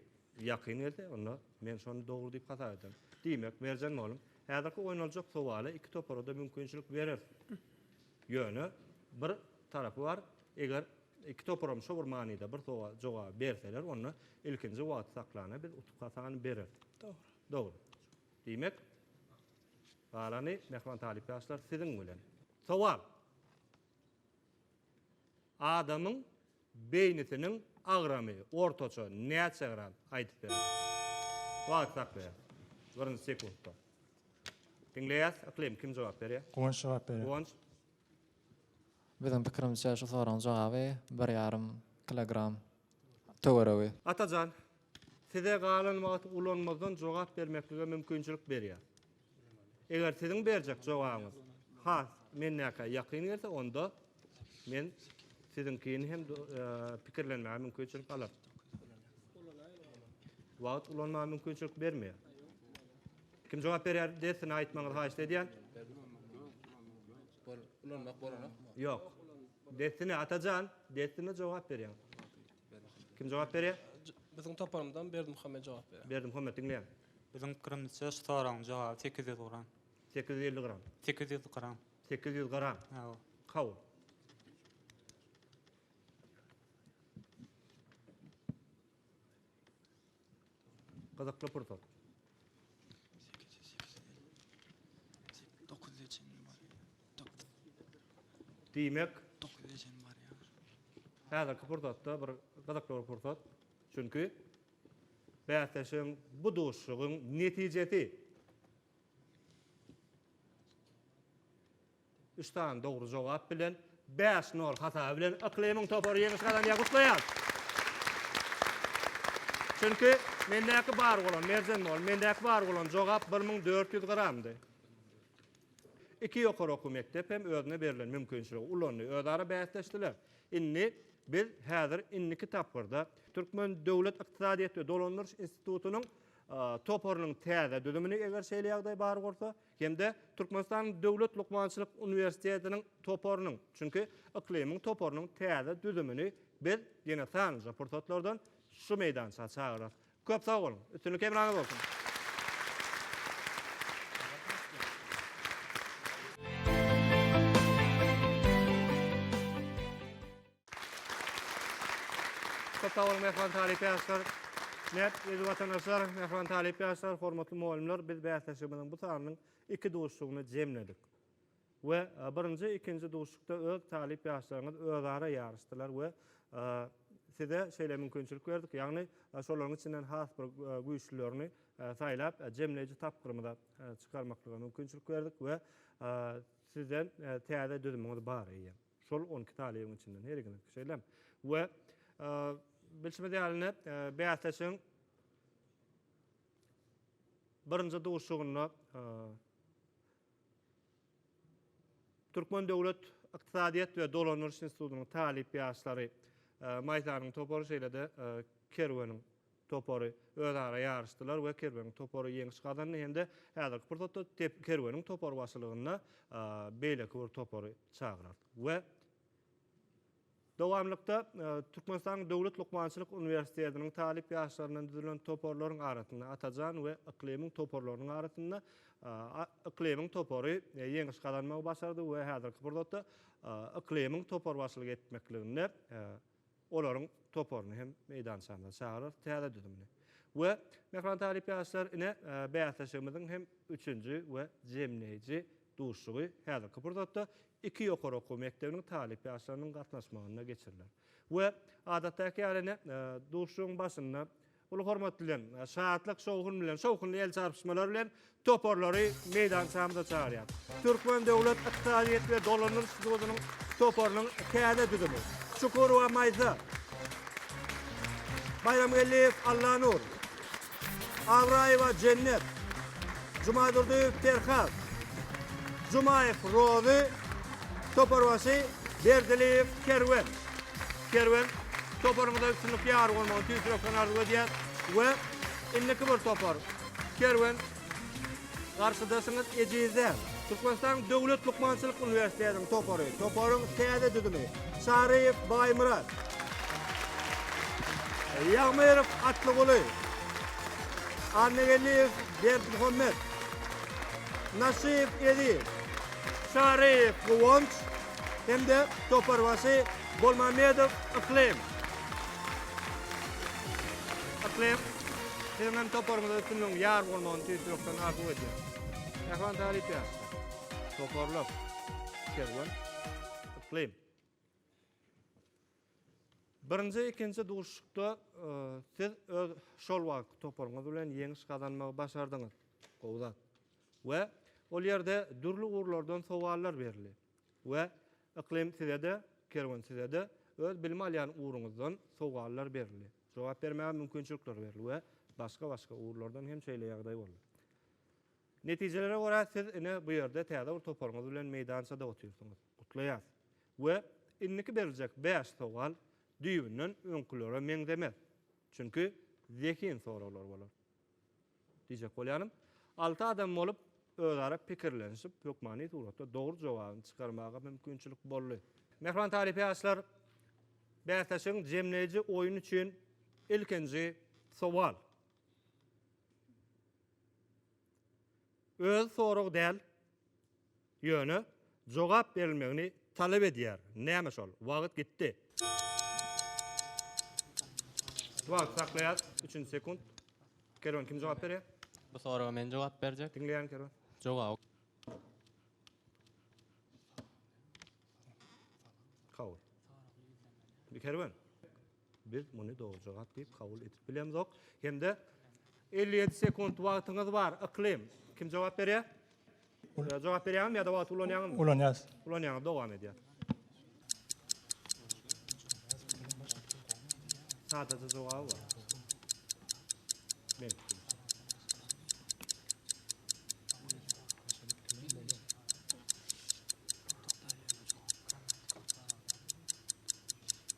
A: ýakyn gelse, onda men şony dogry diýip hasap ederin. Diýmek, Merjen mugallym, häzirki oýnaljak sowala iki topara-da mümkinçilik bereris. Ýöne, bir tarapy bar, eger iki toparam şo bir manyda bir sowal, jogaby berseler, onda ilkinji wagty saklana biz utuk hasany bereris. Dogry. Dogry. Diýmek, galany mähriban talyp ýaşlar siziň bilen. Sowal. Adamyň beýnisiniň agramy ortaça näçe gram? Aýdyp beriň. Wagt saklaýar. Birinji sekuntda. Diňleýäs. Yklym kim jogap berýär? Guwanç jogap berýär. Guwanç. Biziň pikirimizçe şu soragyň jogaby bir ýarym kilogram töweregi. Atajan, size galan wagty ulanmazdan jogap bermeklige mümkinçilik berýär. Eger siziň berjek jogabyňyz has mendäkä ýakyn gelse, onda men siziňkini hem pikirlenmäge mümkinçilik alaryn. Wagt ulanmaga mümkinçilik bermeýär. Kim jogap berýär, dessine aýtmagyňyzy haýyşt edýän. Ulanmak bolanok. Ýok. Dessine Atajan, dessine jogap berýän. Kim jogap berýär? Biziň toparymyzdan Berdimuhammet jogap berýär. Berdimuhammet, diňleýän. Biziň pikirimizçe şu soragyň jogaby sekiz ýüz gram. Sekiz ýüz elli gram. Sekiz ýüz gram. Sekiz ýüz gram. Hawa. Kabul. Gyzykly pursat. Diýmek, häzirki pursatda bir gyzykly bir pursat. Çünki bäsleşigiň bu duşuşygyň netijesi. Üç sany dogry jogap bilen bäş nol hasaby bilen Yklymyň topary ýeňiş gazanýar. Gutlaýarys! Çünki mendäki bar bolan, Merjen mugallym, mendäki bar bolan jogap bir müň dört ýüz gramdy. Iki ýokary okuw mekdep hem özüne berlen mümkinçiligi ulandy, özara bäsleşdiler. Indi biz häzir indiki tapgyrda Türkmen döwlet ykdysadyýet we dolandyryş institutynyň toparynyň täze düzümini, eger şeýle ýagdaý bar bolsa, hem-de Türkmenistanyň Döwlet lukmançylyk uniwersitetiniň toparynyň, çünki yklymyň toparynyň täze düzümini biz ýene sanlyja pursatlardan şu meýdança çagyrarys. Köp sag boluň! Üstünlik hemraňyz bolsun! Köp sag boluň, mähriban talyp ýaşlar! Mert, eziz watandaşlar, mähriban talyp ýaşlar, hormatly mugallymlar, biz bäsleşigimiziň bu sanynyň iki duşuşygyny jemledik we birinji, ikinji duşuşykda öz talyp ýaşlaryňyz özara ýaryşdylar we size şeýle mümkinçilik berdik, ýagny şolaryň içinden has bir güýçlülerini saýlap, jemleýji tapgyrymyza çykarmaklyga mümkinçilik berdik we sizden täze düzümiňiz bar eýýäm. Şol on iki talybyň içinden her ikiniňki şeýlemi? We bilşimiz ýaly, bäsleşigiň birinji duşuşygynda Türkmen döwlet ykdysadyýet we dolandyryş institutynyň talyp ýaşlary, Maýsanyň topary, şeýle-de Kerweniň topary özara ýaryşdylar we Kerweniň topary ýeňiş gazandy hem-de häzirki pursatda Kerweniň topary başylygynda beýleki bir topary çagyrar we dowamlykda Türkmenistanyň Döwlet lukmançylyk uniwersitetiniň talyp ýaşlaryndan düzülen toparlaryň arasynda Atajan we Yklymyň toparlarynyň arasynda Yklymyň topary ýeňiş gazanmagy başardy we häzirki pursatda Yklymyň topary başylyk etmekliginde olaryň toparyny hem meýdançamyza çagyrarys, täze düzümini. We, mähriban talyp ýaşlar, ine, bäsleşigimiziň hem üçünji we jemleýji duşuşygy häzirki pursatda iki ýokary okuw mekdebiniň talyp ýaşlarynyň gatnaşmagynda geçiriler. We, adatdaky ýaly, ine, duşuşygyň başynda Uly hormat bilen, şatlyk, şowhun bilen, şowhunly el çarpyşmalar bilen toparlary meýdançamyza çagyrýas. Türkmen döwlet ykdysadyýet we dolandyryş institutynyň toparynyň täze düzümi, Çukurowa Maýsa, Baýramgeldiýew Allanur, Abraýewa Jennet, Jumadurdyýew Perhat, Jumaýew Rozy, toparbaşy Berdiliýew Kerwen. Kerwen, toparyňyza üstünlik ýar bolmagyny tüýs ýürekden arzuw edýär we indiki bir topar, Kerwen, garşydaşyňyz ejiz däl. Türkmenistanyň Döwlet lukmançylyk uniwersitetiniň topary, toparyň täze düzümi, Çaryýew Baýmyrat, Ýagmyrow Atlyguly, Annageldiýew Berdimuhammet, Naşyýew Eziz, Çaryýew Guwanç, hem-de toparbaşy Bolmamedow Yklym. Yklym, siziň hem toparyňyza üstünligiň ýar bolmagyny tüýs ýürekden arzuw edýärin. Mähriban talyplar, toparlar, Kerwen, Yklym. Birinji, ikinji duşuşykda siz öz şol wagtky toparyňyz bilen ýeňiş gazanmagy başardyňyz. Gowy zat. we ol ýerde dürli ugurlardan sowallar berildi we Yklym sizede Kerwen sizede öz bilim alýan ugruňyzdan sowallar berildi jogap bermäge mümkinçilikler berildi we başga başga ugurlardan hem şeýle ýagdaý boldy. Netijelere görä siz ine bu ýerde täze bir toparyňyz bilen meýdançada otyrsyňyz. Gutlaýas. We indiki beriljek bäş sowal düýbünden öňkülere meňzemez. Çünki zehin soraglar bolar. Diýjek bolýanym, alty adam bolup, özara pikirlenişip, hökmany suratda dogry jogabyny çykarmaga mümkinçilik boldy. Mähriban talyp ýaşlar bäsleşigiň jemleýji oýny üçin ilkinji sowal. Öz soragy däl. Ýöne, jogap berilmegini talap edýär. Näme şol? Wagt gitdi. Wagt saklaýas, üçünji sekunt. Kerwen, kim jogap berýär? Bu soraga men jogap berjek. Diňleýän, Kerwen. Jogaby. Kabul. Kerwen. Biz muny dogry jogap diýip kabul edip bilemzok. Hem-de elli ýedi sekunt wagtyňyz bar. Yklym, kim jogap berýär? Jogap berýäňizmi ýa-da wagty ulanýaňyzmy? Ulanýas. Ulanýaňyz, dowam edýär. Sadaja jogaby bar. Men.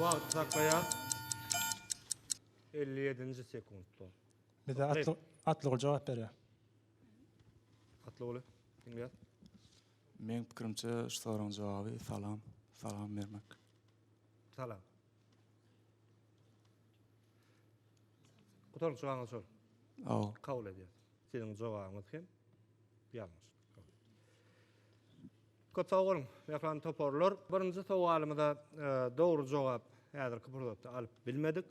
A: Wagt saklaýar. 57-nji sekuntda. Bize atly atly jogap berýär. Atly goly. Diňleýär. Meň pikirimçe şu soragyň jogaby salam. Salam bermek. Salam. Gutaryp çygaňyz şol. Aw. Kabul edýäs. Siziň jogabyňyz hem ýalňyş. Köp sag boluň, mähriban toparlar. Birinji sowalymyza e, dogry jogap häzirki pursatda alyp bilmedik.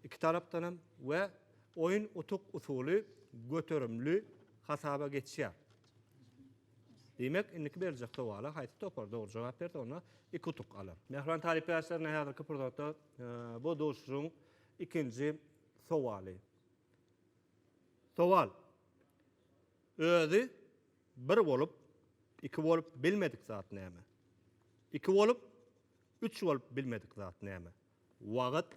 A: Iki tarapdan hem we oýun utuk usuly göterimli hasaba geçýär. Diýmek, indiki beriljek sowala haýsy topar dogry jogap berse, onda iki utuk alar. Mähriban talyp ýaşlaryna häzirki pursatda bu duşuşygyň ikinji sowaly. Sowal. Özi bir bolup, iki bolup bilmedik zat näme? Iki bolup, üç bolup bilmedik zat näme? Wagt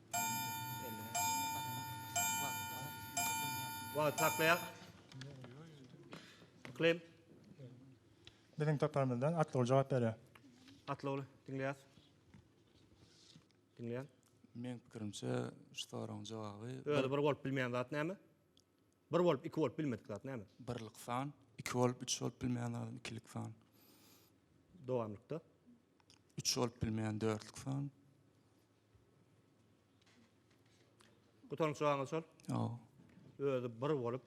A: Wagt saklaýar. Klem. Biziň toparymyzdan Atlyogul jogap berýär. Atlyogul, diňleýäs. Diňleýän. Meň pikirimçe, şu soragyň jogaby. Özi bir bolup bilmeýän zat näme? Bir bolup iki bolup bilmedik zat näme? Birlik san. Iki bolup üç bolup bilmeýän zat ikilik san. Dowamlykda. Üç bolup bilmeýän dörtlük san. Gutaryň çygaňyz şol? Ýok. Özi bir bolup,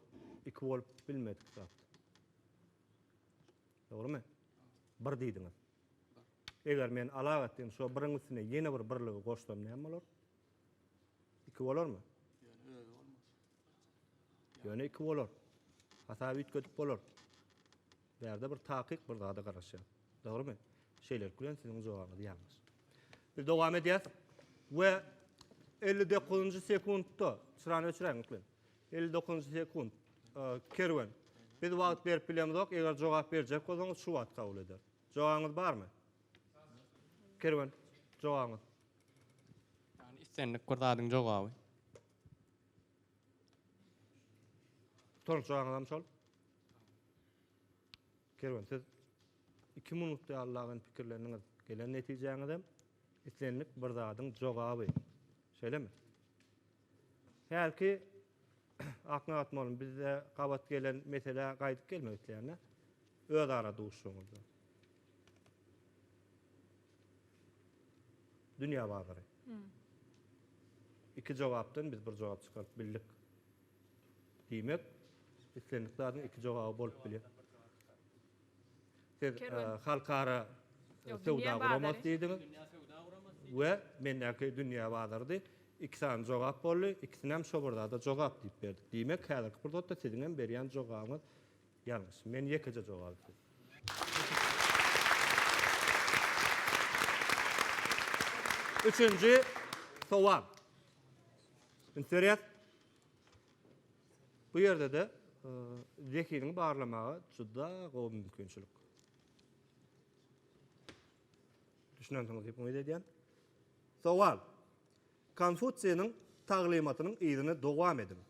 A: iki bolup bilmedik zat. Dogrymy? Bir diýdiňiz. Eger men alak etdim, şo biriň üstüne ýene bir birligi goşsam näme bolar? Iki bolarmy? Ýöne özi bolmaz. Ýöne iki bolar. Hasaby üýtgedip bolar. Bärde bir takyk bir zada garaşýar. Dogrymy? Şeýlelik bilen siziň jogabyňyz ýalňyş. Biz dowam edýäs we elli dokuzynjy sekuntda çyrany öçüräýiň öklen. Elli dokuzynjy sekunt Kerwen. Biz wagt berip bilemizok, eger jogap berjek bolsaňyz şu wagt kabul eder. Jogabyňyz barmy? Kerwen, jogabyňyz. Ýagny islendik bir zadyň jogaby. Toňçaňyzam şol. Kerwen siz iki minutda ýallagan pikirleniňiz, gelen netijäňizem islendik bir zadyň jogaby. Şeýlemi? Hälki akna atmalym bizde gabat gelen meselä gaýdyp gelmek isleýän-dä. Özara duşuşygyňyzda. Dünýä bazary. Iki jogapdan biz bir jogap çykaryp bildik. Diýmek, islendik zadyň iki jogaby bolup bilýär. Siz halkara söwda guramasy diýdiňiz we mendäki dünýä bazarydy. Iki sany jogap boldy. Ikisinem şo bir zada jogap diýip berdik. Diýmek, häzirki pursatda siziň hem berýän jogabyňyz Ýalňyş. Men ýekeje jogapçy. Üçünji sowal. Indi dörýär. Bu ýerde-de zehinini barlamaga juda gowy mümkinçilik. Düşünensiňiz diýip umyt edýän. Sowal. Konfutsiýnyň taglymatynyň yzyny dowam ediň.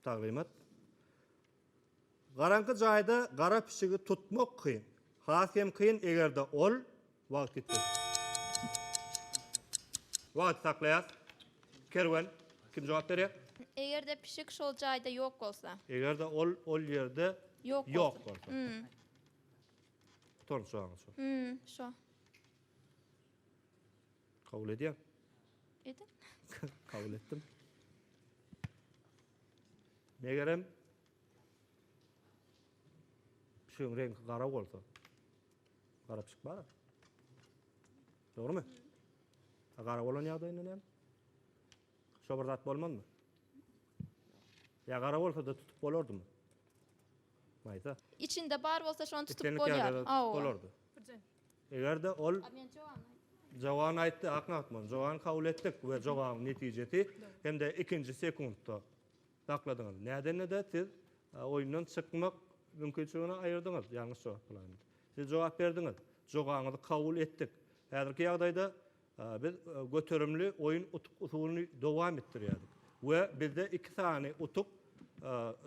A: Taglymat, Garaňky jaýda gara pişigi tutmak kyn. Has hem kyn eger-de ol wagt ýitse. Wagty saklaýas. Kerwen, kim jogap berýär? Eger-de pişik şol jaýda ýok bolsa. Eger-de ol ol ýerde ýok bolsa. Gutardy jaňy şo. Şo. Kabul edýän. Ediň. Kabul etdim. Megerem pişigiň reňki gara bolsa, gara pişik bar. Dogrymy? A gara bolan ýagdaýynda näme? Şo bir zat bolmazmy? Ýa gara bolsa-da tutup bolardymy? Maýsa. Içinde bar bolsa şony tutup Islendik bolýar. ýagdaýda Awa. bolardy. Birjen. Eger-de ol Jogany aýtdy, aknagt bol. Jogany kabul etdik we jogabyň netijesi hem-de ikinji sekuntda sakladyňyz. Nädenede siz oýundan çykmak mümkinçiligini aýyrdyňyz, ýalňyş jogap bilen. Siz jogap berdiňiz. Jogaňyzy kabul etdik. Häzirki ýagdaýda Biz göterimli oýun utuk-usulyny dowam etdirýärdik we bizde iki sany utuk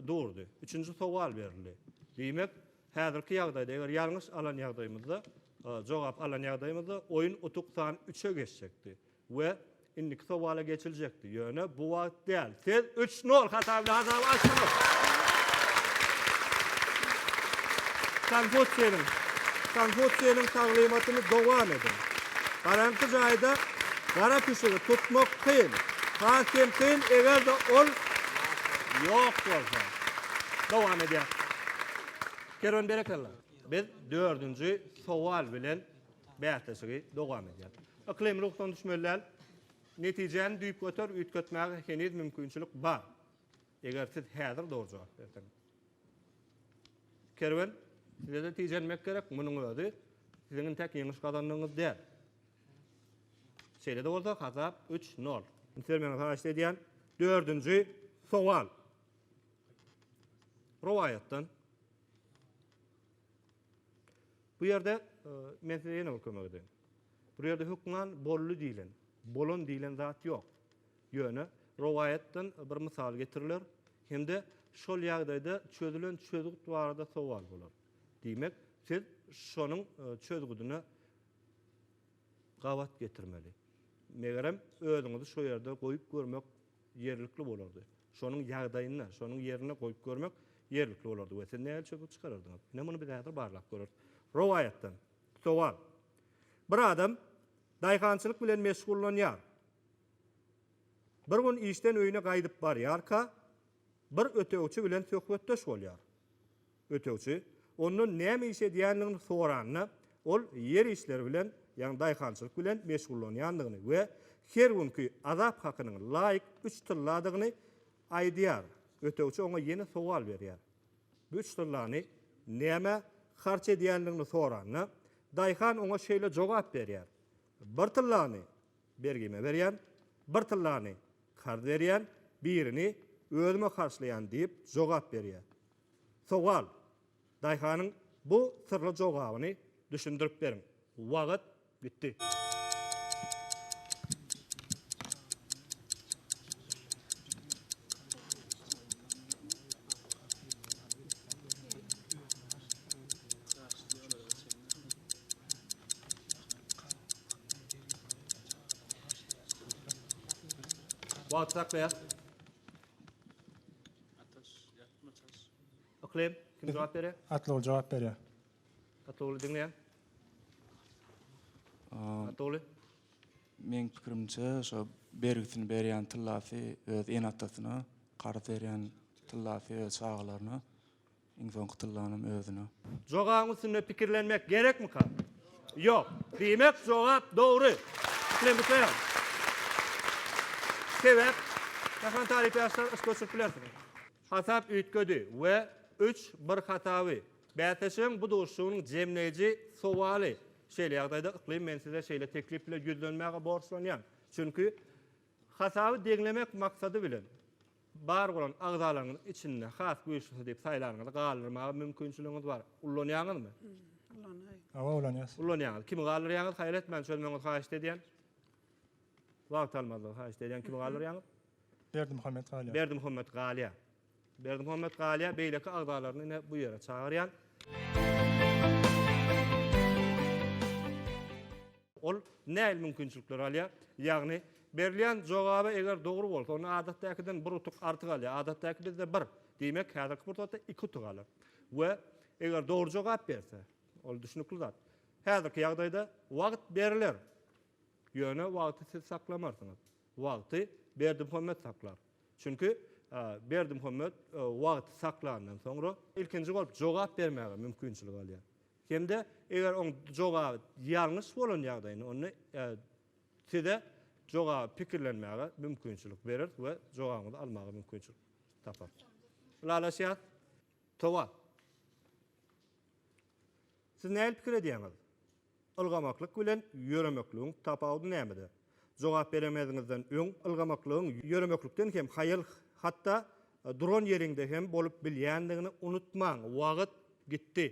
A: durdy. Üçünji sowal berildi. Diýmek, häzirki ýagdaýda, eger ýalňyş alan ýagdaýymyzda, jogap alan ýagdaýymyzda oýun utuk san üçe geçjekdi we indiki sowala geçiljekdi. Ýöne bu wagt däl. Siz üç nol hata bilen hasaby açdyňyz. Konfutsiýniň Konfutsiýniň taglymatyny dowam ediň. Garaňky jaýda gara pişigi tutmak kyn. Has hem kyn, eger-de ol ýok bolsa. Dowam edýäs. Kerwen berekella. Biz dördünji sowal bilen bäsleşigi dowam edýäs. Yklym ruhdan düşmeli däl. Netijäni düýpgöter üýtgetmäge heniz mümkinçilik bar, eger siz häzir dogry jogap berseňiz. Kerwen, size-de tijenmek gerek, munuň özi siziň intäk ýeňiş gazandygyňyz däl. Şeýle-de bolsa, hasap üç, nol. Üns bermegiňizi haýyşt edýän. Dördünji sowal. Rowaýatdan. Bu ýerde men size ýene bir kömek edeýin. Bu ýerde hökman bolly diýilen, bolan diýilen zat ýok. Ýöne rowaýatdan bir mysal getiriler hem-de şol ýagdaýda çözülen çözgüt barada sowal bolar. Diýmek, siz şonuň çözgüdine gabat getirmeli. Megerem, özüňizi şo ýerde goýup görmek ýerlikli bolardy. Şonuň ýagdaýynda, şonuň ýerinde goýup görmek ýerlikli bolardy we siz nähili çözgüt çykarardyňyz? Ine, muny biz häzir barlap göreris. Rowaýatdan. Sowal. Bir adam daýhançylyk bilen meşgullanýar. Bir gün işden öýüne gaýdyp barýarka, bir ötegçi bilen söhbetdeş bolýar. Ötegçi ondan näme iş edýändigini soranda, ol ýer işleri bilen, ýagny daýhançylyk bilen meşgullanýandygyny we her günki azap hakynyň laýyk üç tylladygyny aýdýar. Ötegçi oňa ýene sowal berýär. Bu üç tyllany nämä harç edýändigini soranda, daýhan oňa şeýle jogap berýär, Bir tyllany bergime berýän, bir tyllany karz berýän, birini özüme harçlaýan diýip jogap berýär. Sowal, Daýhanyň bu syrly jogabyny düşündirip beriň. Wagt gitdi. Wagty saklaýas. Ataş, ýatma çaş. Yklym, kim jogap berýär? Atlyogly jogap berýär. Atlyogly diňleýän. Atlyogly. Meň pikirimçe, şo bergisini berýän tyllasy öz ene-atasyna, karz berýän tyllasy öz çagalaryna. Iň soňky tyllanam özüne. Jogabyň üstünde pikirlenmek gerekmika? Ýok. Diýmek jogap dogry. Islendiklem. Sebäp Mähriban talyp ýaşlar yş göçürip bilersiňiz. Hasap üýtgedi we üç bir hasaby. Bäsleşigiň bu duşuşygynyň jemleýji sowaly. Şeýle ýagdaýda Yklym men size şeýle teklip bilen ýüzlenmäge borçlanýan. Çünki hasaby deňlemek maksady bilen. Bar bolan agzalaryňyzyň içinde has güýçlisi diýip saýlanyňyzy galdyrmaga mümkinçiligiňiz bar. Ullanýaňyzmy? Ullanaýyn. Hawa, ulanýas. Ulanýaňyz. Kimi galdyrýaňyz? Haýal etmän çözmegiňizi haýyşt edýän. Wagt almazlygy haýyşt edýän. Kimi galdyrýaňyz? Berdimuhammet galýar. Berdimuhammet galýar. Berdimuhammet galýar. Beýleki agzalaryny ine bu ýere çagyrýan. Ol nähili mümkinçilikleri alýar? Ýagny, berilýän jogaby eger dogry bolsa, onda adatdäkiden bir utuk artyk alýar. Adatdäki bizde bir, diýmek, häzirki pursatda iki utuk alar. We eger dogry jogap berse, ol düşnükli zat. Häzirki ýagdaýda wagt beriler. Ýöne wagty siz saklamarsyňyz. Wagty Berdimuhamet saklar. Çünki Berdimuhamet wagty saklandan soňra ilkinji bolup jogap bermäge mümkinçilik alýar. Hem-de eger oň jogaby ýalňyş bolan ýagdaýynda onda Size jogaby pikirlenmäge mümkinçilik bereris we jogabyňyzy almaga mümkinçilik taparys. Ylalaşýas. Towa. Siz nähili pikir edýäňiz? Ylgamaklyk bilen ýöremekligiň tapawudy nämede? Jogap beremeziňizden öň ylgamaklygyň ýöremeklikden hem haýal, hatda duran ýeriňde hem bolup bilýändigini unutmaň. Wagt gitdi.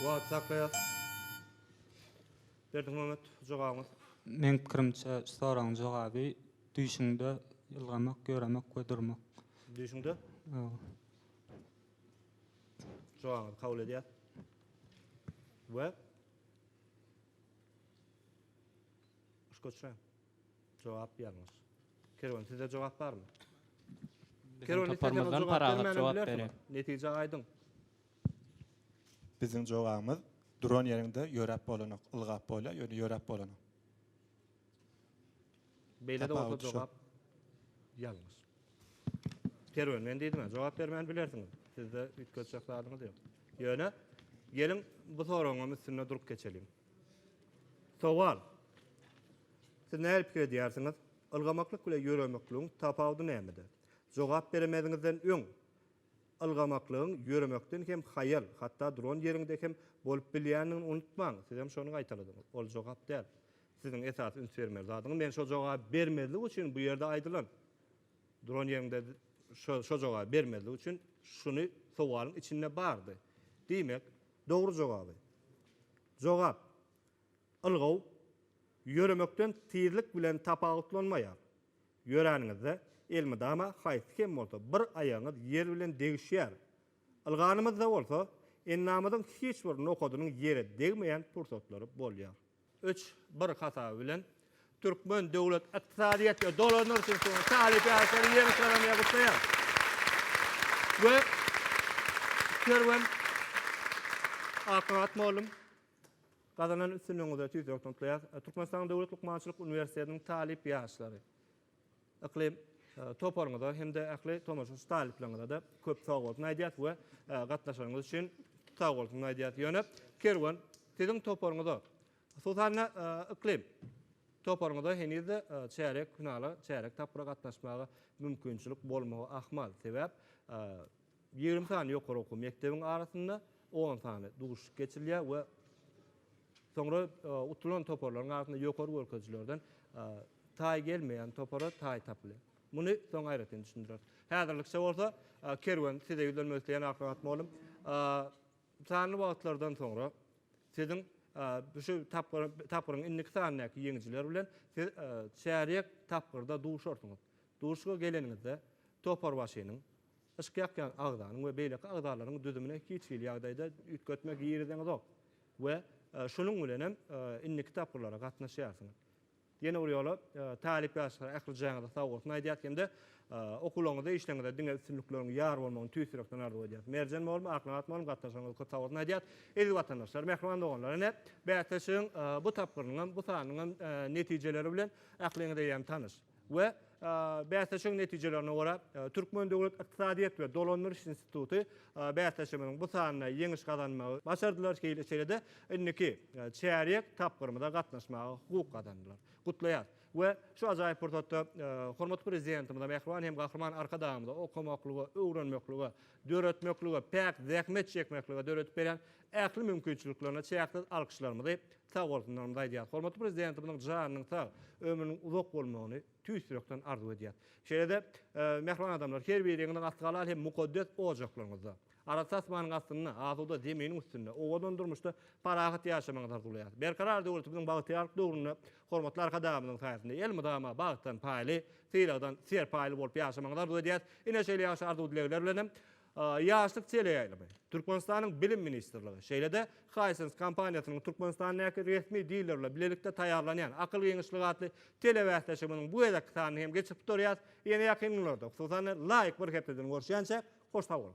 A: Wagt saklaýar. Berdiň Mehmet jogabyňyz. Meň pikirimçe şu soragyň jogaby düýşüňde ýylgamak, ýöremek we durmak. Düýşüňde? Hawa. Jogabyňyzy kabul edýär. We Uskoçra. Jogap ýalňyş. Kerwen sizde jogap barmy? Kerwen isteseňiz jogap bermänm. Netije aýdyň. Biziň jogabymyz duran ýeriňde ýöräp bolanok. Ylgap bolýar, ýöne ýöräp bolanok. Beýlede bolsa jogap ýalňyş. Kerwen men diýdim-ä jogap bermän bilersiňiz. Sizde üýtgedjek zadyňyz ýok. Ýöne geliň bu soragyňam üstünde durup geçeliň. Sowal. Siz nähili pikir edýärsiňiz? Ylgamaklyk bilen ýöremekligiň tapawudy nämede? Jogap beremeziňizden öň, ylgamaklygyň ýöremekden hem haýal, hatda duran ýeriňde hem bolup bilýändigini unutmaň. Sizem şony gaýtaladyňyz. Ol jogap däl. Siziň esasy üns bermeli zadyňyz, men şo jogaby bermezlik üçin bu ýerde aýdylan, duran ýeriňde şo jogaby bermezlik üçin şuny sowalyň içinde bardy. Diýmek, Dogry jogaby. Jogap, Ylgaw ýöremekden tizlik bilen tapawutlanmaýar. Ýöräniňizde elmydama haýsy hem bolsa bir aýagyňyz ýer bilen degişýär. Ylganymyzda bolsa endamyzyň hiç bir nokadynyň ýere degmeýän pursatlary bolýar. Üç, bir hasaby bilen, türkmen döwlet ykdysadyýet we dolandyryş institutynyň talyp-ýaşlary ýeňiş-gazanan gutlaýar we Kerwen Akmurat mugallym, gazanan üstünligiňize tüýs ýürekden gutlaýarys. Türkmenistanyň Döwlet lukmançylyk uniwersitetiniň talyp-ýaşlary Yklym toparyňyza hem-de ähli tomaşaçy talyplaryňyza-da köp sag bolsun aýdýas we gatnaşanyňyz üçin sag bolsun aýdýas. Ýöne Kerwen siziň toparyňyza, hususan-da Yklym toparyňyza heniz-de çärek finala, çärek tapgyra gatnaşmaga mümkinçilik bolmagy ahmal. Sebäp Ýigrimi sany ýokary okuw mekdebiň arasynda on sany duşuşyk geçirilýär we soňra utulan toparlaryň arasynda ýokary görkezijilerden taý gelmeýän topara taý tapylýar. Muny soň aýratyn düşündireris. Häzirlikçe bolsa Kerwen size ýüzlenmek isleýän Aklygat mugallym. Sanly wagtlardan soňra siziň şu tapgyryň indiki sanyndaky ýeňijiler bilen siz çärýek tapgyrda duşarsyňyz. Duşuşyga geleniňizde toparbaşynyň Yşk ýakýan agzanyň we beýleki agzalaryň düzümine hiç hili ýagdaýda üýtgetme girizeňzok we şunuň bilen hem indiki tapgyrlara gatnaşýarsyňyz. Ýene bir ýola talyp ýaşlara ähli jaýyňyza sagbossun aýdýas hem-de okuwlaryňyzda işleriňizde diňe üstünlikleriň ýar bolmagyny tüýs ýürekden arzuw edýäs. Merjen mugallym, Aknabat mugallym gatnaşygyňyza köp sagbossun aýdýas. Eziz watandaşlar, mähriban doganlar ine bäsleşigiň bu tapgyrynyň hem bu sanynyň hem netijeleri bilen ähliňiz eýýäm tanyş. we bäsleşigiň netijelerine görä, Türkmen döwlet ykdysadyýet we dolandyryş instituty bäsleşigimiziň bu sanynda ýeňiş gazanmagy başardylar, şeýle-de indiki çärýek tapgyrymyza gatnaşmaga hukuk gazandylar. Gutlaýarys we şu ajaýyp pursatda hormatly Prezidentimize, mähriban hem Gahryman Arkadagymyza okamaklyga, öwrenmeklige, döretmeklige, päk zähmet çekmeklige döredip berýän Ähli mümkinçiliklerine çäksiz alkyşlarymyzy, sagbolsunlarymyzy aýdýarys. Hormatly Prezidentimiziň janynyň sag, ömrüniň uzak bolmagyny tüýs ýürekden arzuw edýäris. Şeýle-de, mähriban adamlar, her biriňiziň asly halal hem mukaddes ojaklaryňyzda, arassa asmanyň astynda, asuda zeminiň üstünde, owadan durmuşda parahat ýaşamagyňyzy arzuwlaýarys. Berkarar döwletimiziň bagtyýarlyk döwründe hormatly Arkadagymyzyň saýasynda elmydama bagtdan paýly, sylagdan serpaýly bolup ýaşamagyňyzy arzuw edýäris. Ine, şeýle ýagşy arzuw-dilegler bilenem, Ýaşlyk teleýaýlymy, Türkmenistanyň Bilim ministrligi, şeýle-de Hisense kompaniýasynyň Türkmenistandäki resmi dileri bilen bilelikde taýýarlanýan Akyl giňişligi atly telebäsleşigimiziň bu gezekki sanyny hem geçirip durýarys. Ýene ýakyn günlerde, hususan-da, laýyk bir hepdeden görüşýänçä, hoş sag boluň!